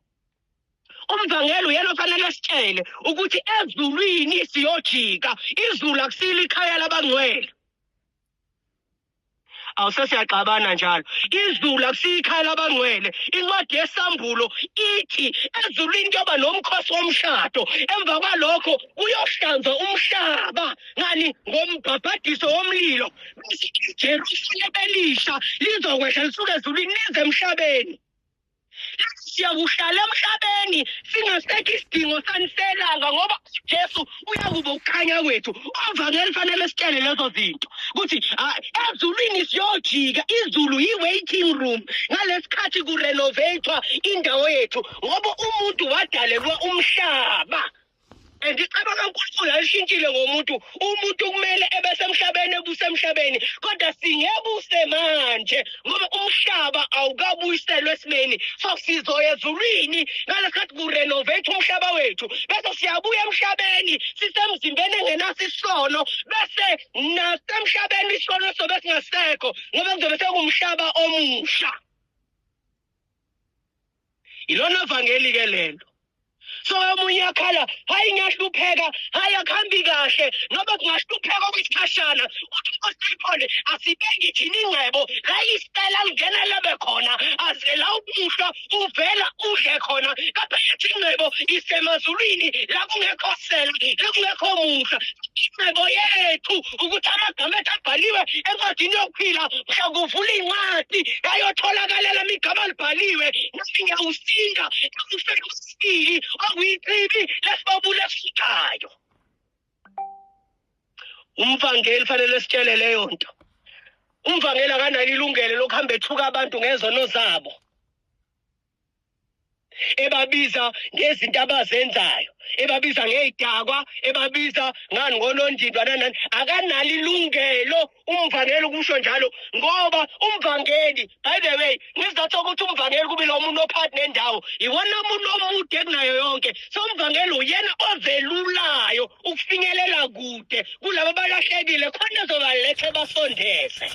umvangeli uyena ofanele sitshele ukuthi ezulwini siyojika izulu akusile ikhaya labangcwele awusesiyagxabana njalo izulu akusiyikhaya labangcwele incwadi yesambulo ithi ezulwini kuyoba nomkhosi womshado emva kwalokho kuyohlanzwa umhlaba ngani ngombhabhadiso womlilo bese ijerusalem elisha lizokwehla lisuke ezulwini lize emhlabeni siyakuhlala emhlabeni singasekho isidingo sani selanga ngoba ujesu uyakuba ukukhanya kwethu ovangeli fanele sitshele lezo zinto ukuthi ah, ezulwini siyojika izulu yi-waiting room ngalesikhathi kurenovatwa indawo yethu ngoba umuntu wadalelwa umhlaba and icebo kaNkulunkulu alishintshile ngomuntu umuntu kumele ebesemhlabeni ebusemhlabeni kodwa singebuse manje ngoba umhlaba awukabuyiselwe esimeni so sizoya ezulwini ngalesikhathi kurenovate umhlaba wethu bese siyabuya emhlabeni sisemzimbeni engenaso isono bese nasemhlabeni isono sobe singasekho ngoba kuzobe sekuwumhlaba omusha yilona vangeli ke lento so omunye akhala hayi ngiyahlupheka hayi akuhambi kahle noba kungahlupheka okwesikhashana uthi usiphole asibeki thina ingcebo la isitela lingena lebe khona aze la ubuhlwa uvela udle khona kade yathi ingcebo isemazulwini la kungekho sela la kungekho musa ingcebo yethu ukuthi amagama ethu abhaliwe encwadini yokuphila mhla kuvula incwadi yayotholakalelama igama libhaliwe nami ngiyawusinda ngikufela usibili okuyichibi lesibabule esifikayo umvangeli fanele sitshele leyo nto umvangeli akanalo ilungelo lokuhamba ethuka abantu ngezono zabo ebabiza ngezinto abazenzayo ebabiza ngey'dakwa ebabiza ngani ngonondindwa nanani akanalo ilungelo umvangeli ukusho njalo ngoba umvangeli by the way ngizatho ukuthi umvangeli kube lo muntu ophathi nendawo iwona muntu omude kunayo yonke so umvangeli uyena ovelulayo ukufinyelela kude kulaba balahlekile khona ezobaletha basondeze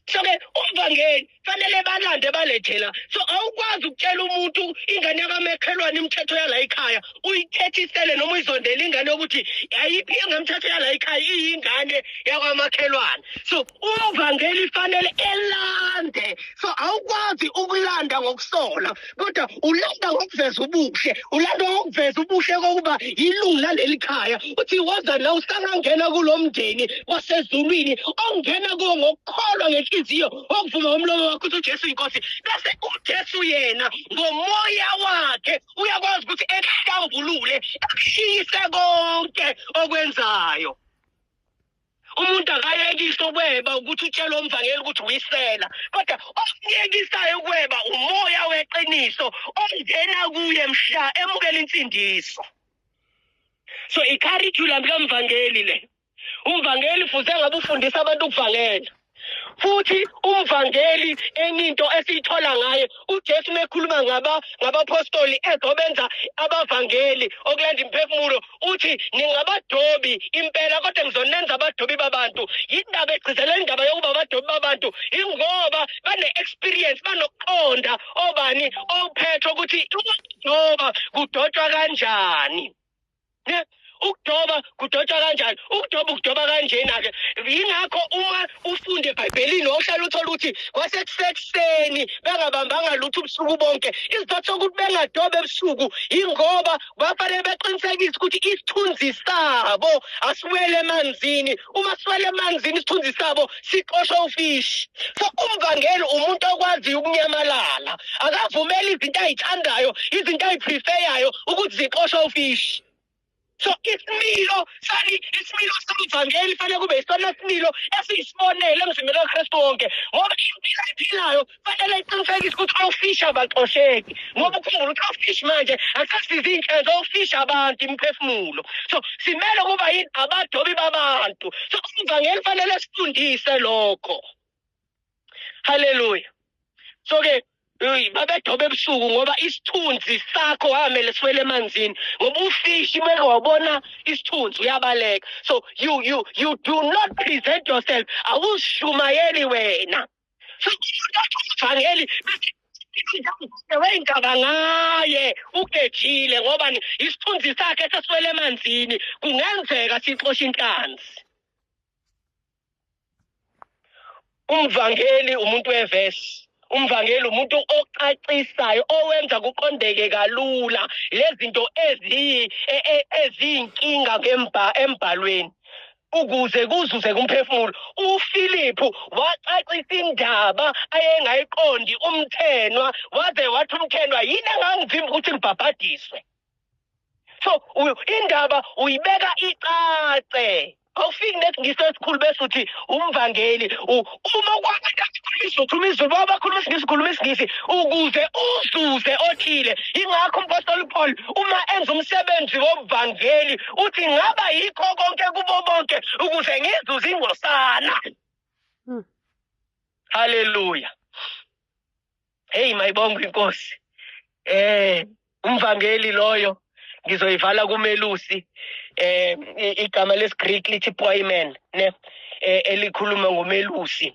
soke umvangeli fanele balande balethela so awukwazi ukutshela umuntu ingane yakamakhelwane imithetho yala ikhaya uyithethisele noma uyizondela ingane yokuthi ayiphi engemthetho yala ikhaya iyingane yakwamakhelwane so umvangeli fanele elande so awukwazi ukulanda ngokusola kodwa ulanda ngokuveza ubuhle ulanda ngokuveza ubuhle kokuba yilungu laleli khaya uthi woza la usangangena kulo mndeni wasezulwini ongena kuwo ngokukholwa ngenhliziyo okuvuma umlomo wakho ukuthi ujesu yinkosi bese ujesu yena ngomoya wakhe uyakwazi ukuthi ekuhlambulule ekushiyise konke okwenzayo umuntu akayekise ukweba ukuthi utshele omvangeli ukuthi uyisela kodwa okuyekisayo ukweba umoya weqiniso ongena kuye mhla emukela insindiso so i-curriculum kamvangeli le umvangeli fuze ngabe ufundisa abantu ukuvangela futhi umvangeli enye into esiyithola ngaye uJesu mekhuluma ngaba ngabapostoli ezobenza abavangeli okulanda imphefumulo uthi ningabadobi impela kodwa ngizonenza abadobi babantu yindaba egcizela indaba yokuba abadobi babantu ingoba bane-experience banokuqonda obani ophethe ukuthi ukudoba kudotshwa kanjani ne ukudoba kudotshwa kanjani ukudoba ukudoba kanjena ke yingakho uma ufunde ebhayibhelini wawuhlala uthole ukuthi kwasekuseni bengabambanga lutho ubusuku bonke isizathu sokuthi bengadoba ebusuku yingoba bafanele beqinisekise ukuthi isithunzi sabo asiwele emanzini uma sifela emanzini isithunzi sabo siqoshwa ufishi so umvangeli umuntu okwaziyo ukunyamalala akavumeli izinto ayithandayo izinto ayiprefeyayo ukuthi ziqoshwa ufishi so isimilo sani isimilo somvangeli fanele kube isona similo esiyisibonelo emzimbeni wakristu wonke ngoba impilo ayiphilayo fanele iqinisekise ukuthi ofishi abaxosheki ngoba ukhumbula ukuthi ofishi manje akusasiza iy'nhlelo ofishi abantu imiphefumulo so simele ukuba yini abadobi babantu so ivangeli fanele sifundise lokho haleluya so-ke babedoba ebusuku ngoba isithunzi sakho wamele siwele emanzini ngoba ufishi meke wabona isithunzi uyabaleka so you, you, you do not present yourself awushumayeli wena ivangeli weyingaba ngaye ugethile ngoba isithunzi sakhe seswele emanzini kungenzeka sixoshe inhlanzi umvangeli umuntu wevesi umvangeli umuntu ocacisayo owenza kuqondeke kalula lezinto e, e, eziyinkinga embhalweni ukuze kuzuzeke umphefumulo uFiliphu wacacisa indaba ayengayiqondi umthenwa waze wathi umthenwa yini angangivimba ukuthi ngibhabhadiswe so indaba uyibeka icace awufiki nesiNgisi esikhulu bese uthi umvangeli uma ukwazi kathi khuluma isiZulu khuluma isiZulu baba bakhuluma isingisi khuluma isingisi ukuze uzuze othile ingakho umpostoli Paul uma enza umsebenzi wobuvangeli uthi ngaba yikho konke kubo bonke ukuze ngizuze ingosana hmm. haleluya Hey mayibonga inkosi. Eh umvangeli loyo ngizoyivala kumelusi eh igama lesiGreek lithi poimen ne eh, elikhuluma ngomelusi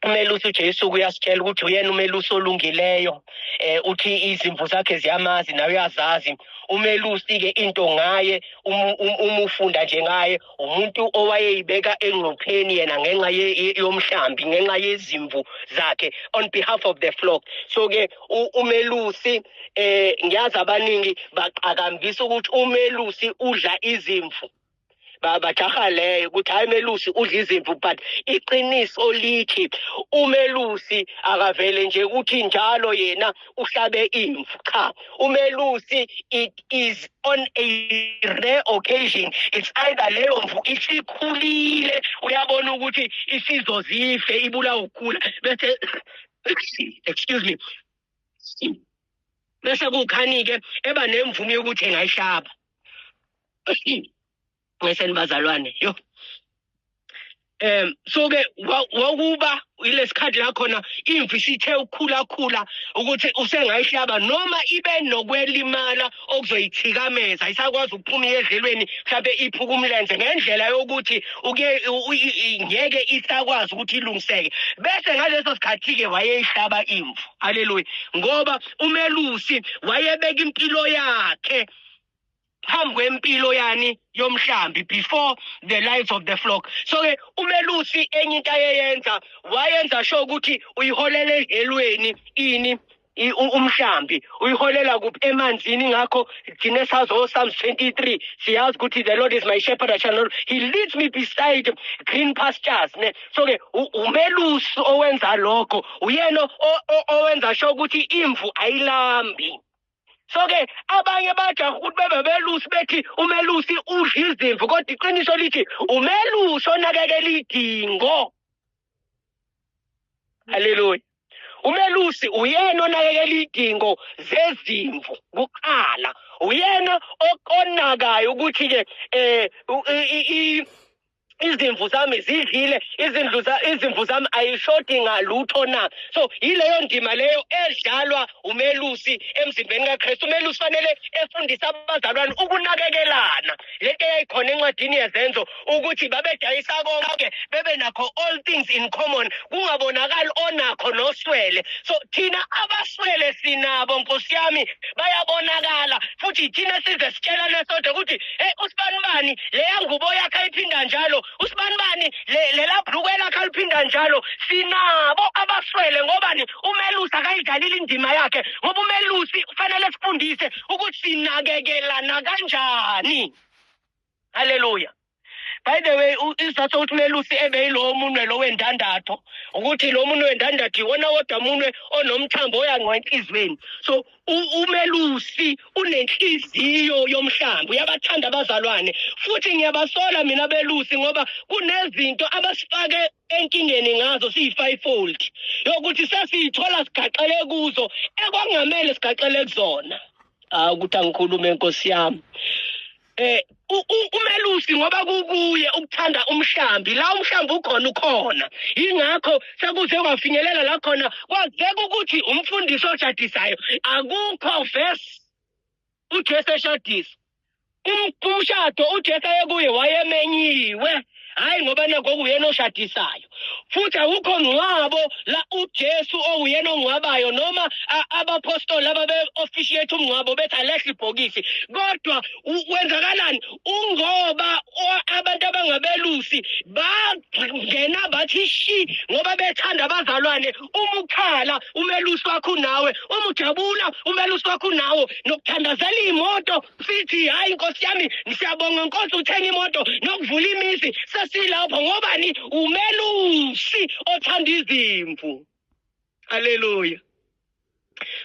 umelusi uJesu uyasitshela ukuthi uyena umelusi olungileyo eh uthi izimvu zakhe ziyamazi nawe uyazazi umelusi ke into ngaye um, um, umufunda nje ngaye umuntu owayeyibeka engcupheni yena ngenxa yomhlambi ngenxa yezimvu zakhe on behalf of the flock so ke umelusi eh ngiyazi abaningi baqakambisa ukuthi umelusi udla izimvu bajaha leyo ukuthi hayi melusi udla izimvu but iqiniso lithi umelusi akavele nje ukuthi njalo yena uhlabe imvu cha umelusi it is on a rare occasion it's either leyo mvu isikhulile uyabona ukuthi isizozife ibula ukugula bese excuse me bese kukhanike eba nemvume yokuthi engayihlaba ngeseni bazalwane yo um so ke wakuba yilesikhathi la khona imvu isithe ukukhulakhula ukuthi usengayihlaba noma ibe nokwelimala okuzoyithikameza isakwazi ukuphuma iyedlelweni mhlawumbe iphuka umlenze ngendlela yokuthi ngeke isakwazi ukuthi ilungiseke bese ngaleso sikhathi-ke wayeyihlaba imvu haleluya ngoba umelusi wayebeka impilo yakhe phambi kwempilo yani yomhlambi before the lives of the flock so ke umelusi enye into ayeyenza wayenza sho ukuthi uyiholela ehelweni ini umhlambi uyiholela kuphi emanzini ngakho thina sazi oSalms 23 siyazi ukuthi the Lord is my shepherd I shall not he leads me beside green pastures ne so ke umelusi owenza lokho uyena owenza sho ukuthi imvu ayilambi so ke abanye bajaha ukuthi bebe belusi bethi umelusi udla izimvu kodwa iqiniso lithi umelusi onakekela idingo haleluya umelusi uyena onakekela idingo zezimvu kuqala uyena okonakayo ukuthi-ke um izimvu zami zidlile izindlu izimvu zami ayishodi ngalutho na so yileyo ndima leyo edlalwa umelusi emzimbeni kaKristu umelusi fanele efundise abazalwane ukunakekelana lento eyayikhona encwadini yezenzo ukuthi babedayisa konke bebe nakho all things in common kungabonakali onakho noswele so thina abaswele sinabo nkosi yami bayabonakala futhi thina size sitshelane sodwa ukuthi Hey usibanibani leya ngubo yakhe ayiphinda njalo usibanibani le lela bhlukwe lakhe aliphinda njalo sinabo abaswele ngobani umelusi akayidlalile indima yakhe ngoba umelusi kufanele sifundise ukuthi sinakekelana kanjani haleluya by the way isizathu sokuthi umelusi ebe yilowo munwe lo wendandatho ukuthi lo munwe wendandatho iwona wodwa munwe onomthambo oyangwa enhliziyweni so umelusi unenhliziyo yomhlambi uyabathanda abazalwane futhi ngiyabasola mina belusi ngoba kunezinto abasifake enkingeni ngazo siyi-fivefold yokuthi sesiyithola sigaxele kuzo ekwangamele sigaxele kuzona hawu ukuthi angikhulume nkosi yami eh umelusi ngoba kukuye ukuthanda umhlambi la umhlambi ukhona ukhona ingakho sekuze kwafinyelela la khona kwazeka ukuthi umfundisi oshadisayo akukho verse uJesu eshadisa umshado uJesu ayekuye wayemenyiwe hayi ngoba nakho uyena oshadisayo futhi awukho mngcwabo la uJesu owuyena ongcwabayo noma abaphostoli ababe officiate umngcwabo bethi alehle ibhokisi kodwa kwenzakalani ungoba abantu abangabelusi bangena bathi shi ngoba bethanda abazalwane uma ukhala umelusi wakho nawe uma ujabula umelusi wakho nawe nokuthandazela imoto sithi hayi nkosi yami siyabonga nkosi uthenga imoto nokuvula imizi sesilapho ngobani umelusi othanda izimvu haleluya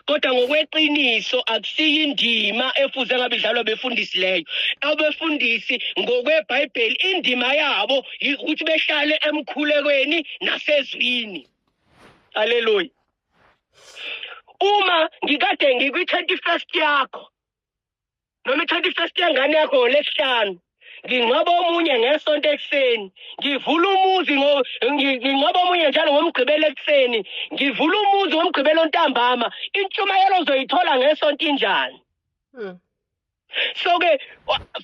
kodwa ngokweqiniso akusiyo indima efuze ngabe idlalwa befundisi leyo abefundisi ngokwebhayibheli indima yabo ukuthi behlale emkhulekweni nasezwini haleluya uma ngikade ngikwi-twenty first yakho noma ithatha ifesti yengane yakho ngolesihlanu ngingcwaba omunye ngesonto ekuseni ngivula umuzi ngingcwaba omunye njalo ngomgqibelo ekuseni ngivula umuzi ngomgqibelo ntambama intshumayelo ozoyithola ngesonto injani hmm. so-ke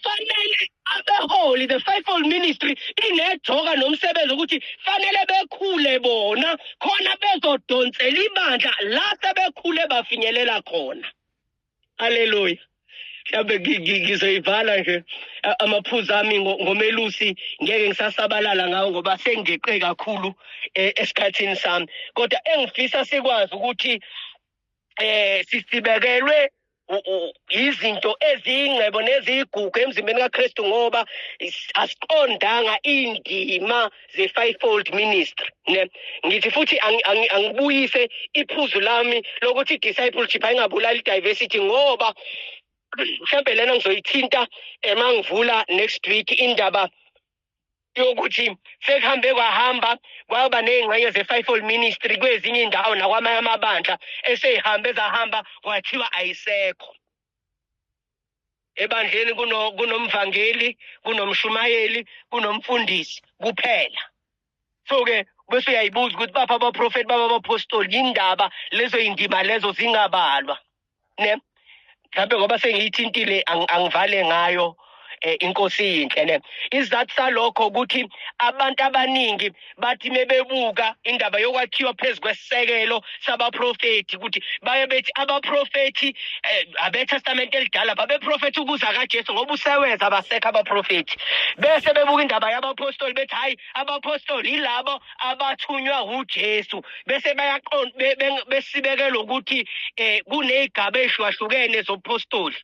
fanele abeholi the fivefold ministry inejoka nomsebenzi ukuthi fanele bekhule bona khona bezodonsela ibandla la sebekhule bafinyelela khona Hallelujah. mhlawumbe ngi- ngi- ngizoyivala nje a- amaphuzu ami ngo- ngomelusi ngeke ngisasabalala ngawo ngoba sengigeqe kakhulu eh, esikhathini sami kodwa engifisa sikwazi ukuthi eh sisibekelwe u- u- izinto eziyingcebo neziyigugu emzimbeni kaKristu ngoba is- asiqondanga indima the fivefold ministry ne ngithi futhi angibuyise iphuzu lami lokuthi discipleship ayingabulali diversity ngoba mhlambe lena ngizoyithinta emangivula next week indaba yokuthi sekuhambe kwahamba kwaba nezingxenye ze-fivefold ministry kwezinye indawo nakwamanye amabandla eseyihambe zahamba kwathiwa ayisekho ebandleni kunomvangeli kunomshumayeli kunomfundisi kuphela so ke bese uyayibuza ukuthi bapha abaprofethi baba abapostoli yindaba lezo yindima lezo zingabalwa ne mhlawumbe ngoba sengiyithintile angivale ngayo eh, inkosi yinhle ne isizathu salokho ukuthi abantu abaningi bathi mebebuka indaba yokwakhiwa phezu kwesekelo sabaprofethi ukuthi baye bethi abaprofethi eh, abetestamente elidala babeprofethi ukuza kajesu ngoba useweza abasekho abaprofethi bese bebuka indaba yabapostoli bethi hhayi abapostoli yilabo abathunywa wujesu bese bebesebekelwa ukuthi um eh, kuney'gaba ey'hlukahlukene zobupostoli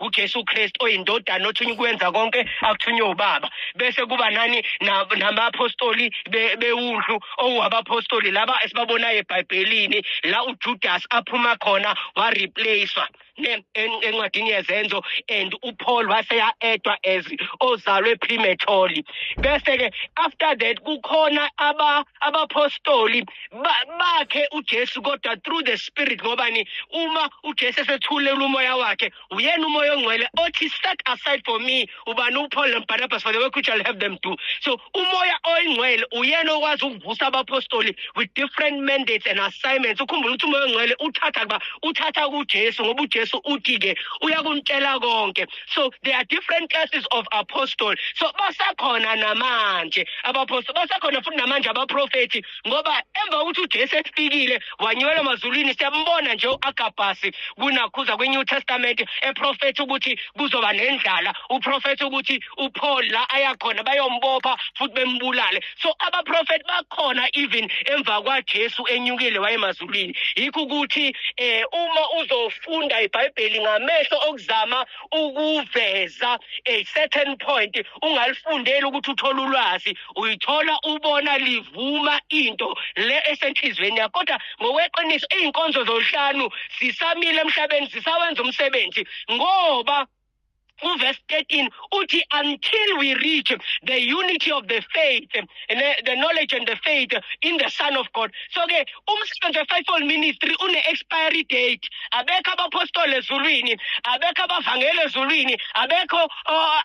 uJesu Kristu oyindodana othunywa ukwenza konke akuthunywe ubaba bese kuba nani namaphostoli bewundlu owabaphostoli laba esibabonayo ebhayibhelini la uJudas aphuma khona wareplacewa encwadini yezenzo and uPaul waseya edwa as ozalwe prematurely bese ke after that kukhona aba abaphostoli bakhe uJesu kodwa through the spirit ngobani uma uJesu esethulela umoya wakhe uyena umoya ongcwele othi set aside for me ubani uPaul noBarnabas for the work which I'll have them do so umoya oyingcwele uyena okwazi ukuvusa abapostoli with different mandates and assignments ukhumbula ukuthi umoya ongcwele uthatha kuba uthatha kuJesu ngoba uJesu uthi ke uyakuntshela konke so there are different classes of apostle so basakhona namanje abaphostoli basakhona futhi namanje abaprofethi ngoba emva kokuthi ujesu efikile wanyukelwa emazulwini siyambona nje u-agabhasi kunakhuza kwi-new testament eprofetha ukuthi kuzoba nendlala uprofetha ukuthi upaul la ayakhona bayombopha futhi bembulale so abaprofethi bakhona even emva kwajesu enyukile wayemazulwini ebhayibhelini yikho ukuthi eh uma uzofunda ibhayibheli ngamehlo okuzama ukuveza a certain point ungalifundeli ukuthi uthole ulwazi uyithola ubona livuma into le esenhlizweni yakho kodwa ngokweqiniso izinkonzo zolhlanu sisamile emhlabeni sisawenza umsebenzi ngoba uverse 13 uthi until we reach the unity of the faith the knowledge and the faith in the son of god so ke umsebenzi we-faithful ministry une-expiry date abekho abapostoli ezulwini abekho abavangeli ezulwini abekho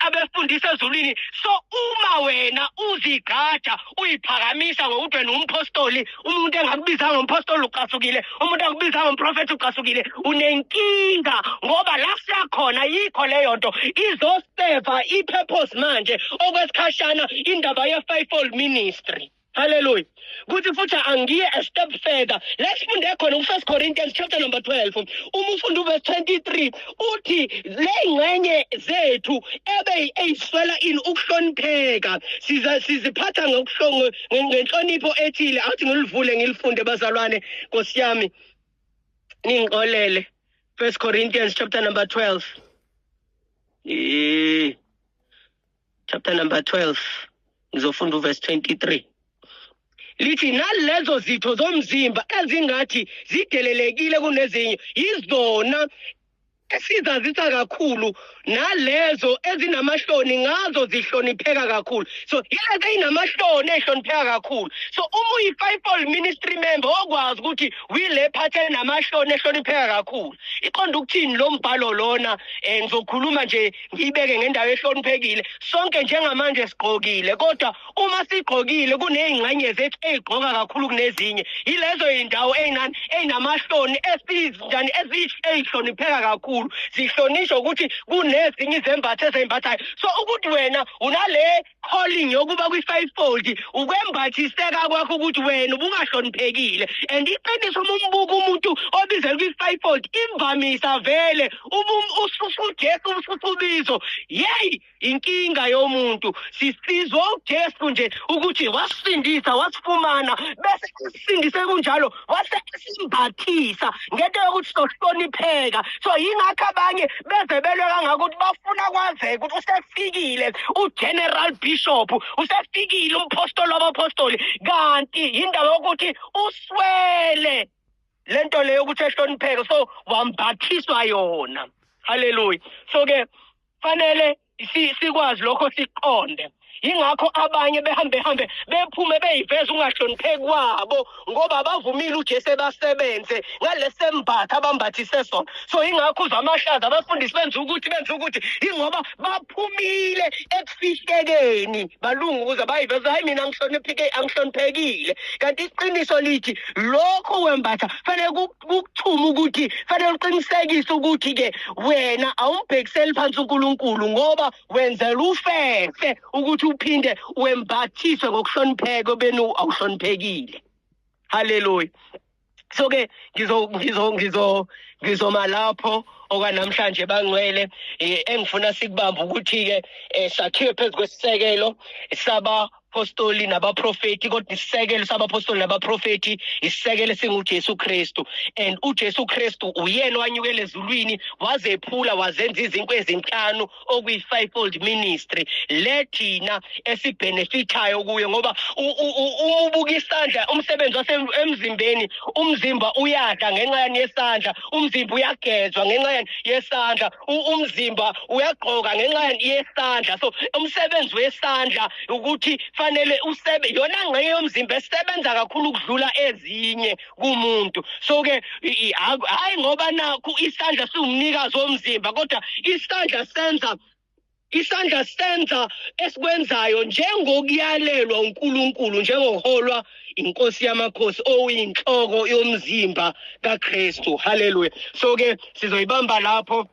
abefundisa ezulwini so uma wena uzigqaja uyiphakamisa ngokuthi wena umpostoli umuntu engakubiza ngompostoli ucasukile umuntu engakubiza ngomprofethi ucasukile unenkinga ngoba la siyakhona yikho leyo nto izoseva i-purpose manje okwesikhashana indaba ye-fivefold ministry Hallelujah. Kuthi futhi angiye a step further. Let's funde khona ku1 Corinthians chapter number 12. Uma ufunda uverse 23 uthi lengcenye zethu ebe eyiswela ini ukuhlonipheka. Siza siziphatha ngokuhlongo ngenhlonipho ethile awuthi ngilivule ngilifunde bazalwane nkosi yami ningixolele first corinthians chapter number 12 e chapter number 12 ngizofunda uverse 23 lithi nalezo zitho zomzimba ezingathi zidelelekile kunezinye yizona esizazisa kakhulu nalezo ezinamahloni ngazo zihlonipheka kakhulu so yilezi eyinamahloni ehlonipheka kakhulu so uma uyi-fipol ministry member okwazi ukuthi wile phathi enamahloni ehlonipheka kakhulu iqonda ukuthini lo mbhalo lona um ngizokhuluma nje ngiyibeke ngendawo ehloniphekile sonke njengamanje sigqokile kodwa uma sigqokile kuney'ngxenye zethu ey'gqoka kakhulu kunezinye yilezo y'ndawo ey'nani ey'namahloni esizinjani ey'hlonipheka kakhulu zihlonishwa ukuthi kunezinye izembatho ezey'mbathayo so ukuthi wena unale calling yokuba kwi-five fold ukwembathiseka kwakho ukuthi wena ubungahloniphekile and iqiniso uma umbuka umuntu obizela kwi-five fold imvamisa vele usujesu ususubizo yeyi inkinga yomuntu sisizwa uJesu nje ukuthi wasifindisa wasifumana bese sisindise kunjalo wase simbathisa ngento yokuthi sohlonipheka so yingakho abanye beze belwe kangaka ukuthi bafuna kwazeka ukuthi usefikile ugeneral bishop usefikile umphostoli wabaphostoli kanti yindaba yokuthi uswele lento leyo ukuthi ehlonipheke so wambathiswa yona haleluya so ke fanele sikwazi lokho siqonde yingakho abanye behambe hambe bephume beyiveza ungahlonipheki kwabo ngoba abavumile uJesu ebasebenze ngalesembatha abambathise sona so yingakho uzamahlaza abafundisi benza ukuthi benza ukuthi ingoba baphumile ekufihlekeni balungu ukuze bayiveze hayi mina angihlonipheke angihloniphekile kanti iqiniso lithi lokho wembatha fanele kukuthuma ukuthi fanele uqinisekise ukuthi ke wena awumbhekiseli phansi uNkulunkulu ngoba wenzela ufefe ukuthi uphinde wembathiswe ngokuhlonipheka obenu awuhloniphekile haleluya so ke ngizo ngizo ngizo ngizoma lapho okwanamhlanje bangcwele eh, engifuna sikubamba ukuthi-ke um sakhiwe phezu kwesisekelo saba abaphostoli nabaprofeti kodwa isisekelo sabaphostoli nabaprofeti isisekelo esinguJesu Kristu and uJesu Kristu uyena owanyukela ezulwini wazephula wazenza izinkwe ezinhlanu okuyi-fivefold ministry le thina esibhenefithayo kuyo ngoba uma ubuka isandla umsebenzi wasemzimbeni umzimba uyada ngenxa yani yesandla umzimba uyagezwa ngenxa yani yesandla umzimba uyagqoka ngenxa yesandla so umsebenzi wesandla ukuthi fanele usebe yona ngxenye yomzimba esebenza kakhulu ukudlula ezinye kumuntu so ke hayi ngoba nakho isandla siwumnikazi womzimba kodwa isandla senza Isandla senza esikwenzayo njengokuyalelwa uNkulunkulu njengoholwa inkosi yamakhosi oyinhloko yomzimba kaKristu. Hallelujah. So ke sizoyibamba lapho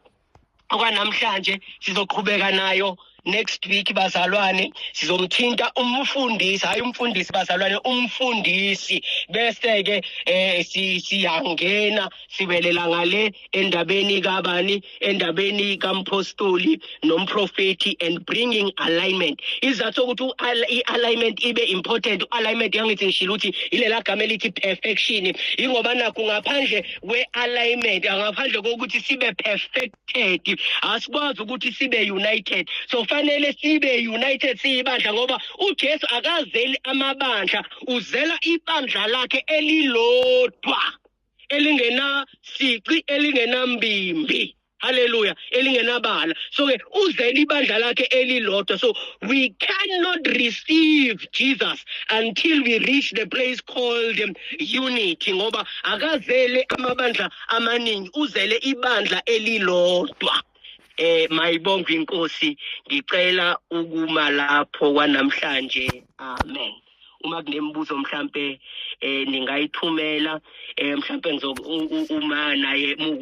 okwanamhlanje sizoqhubeka nayo next week bazalwane sizomthinta umfundisi hayi umfundisi bazalwane umfundisi bese ke eh siyangena sibelela ngale endabeni kabani endabeni kamphostoli nomprofethi and bringing alignment izathu sokuthi i-alignment ibe important u-alignment yangithi ngishilo ukuthi ilela gama elithi perfection ingoba nakho ngaphandle kwe-alignment ngaphandle kokuthi sibe perfected asikwazi ukuthi sibe united so fanele sibe united siyibandla ngoba ujesu akazeli amabandla uzela ibandla lakhe elilodwa elingenasici elingenambimbi haleluya elingenabala so ke uzele ibandla lakhe elilodwa so we cannot receive jesus until we reach the place called um, unity ngoba akazele amabandla amaningi uzele ibandla elilodwa eh mayibonga inkosi ngicela ukuma lapho kwanamhlanje amen uma kunemibuzo mhlampe eh ningayithumela eh mhlampe ngizo uma naye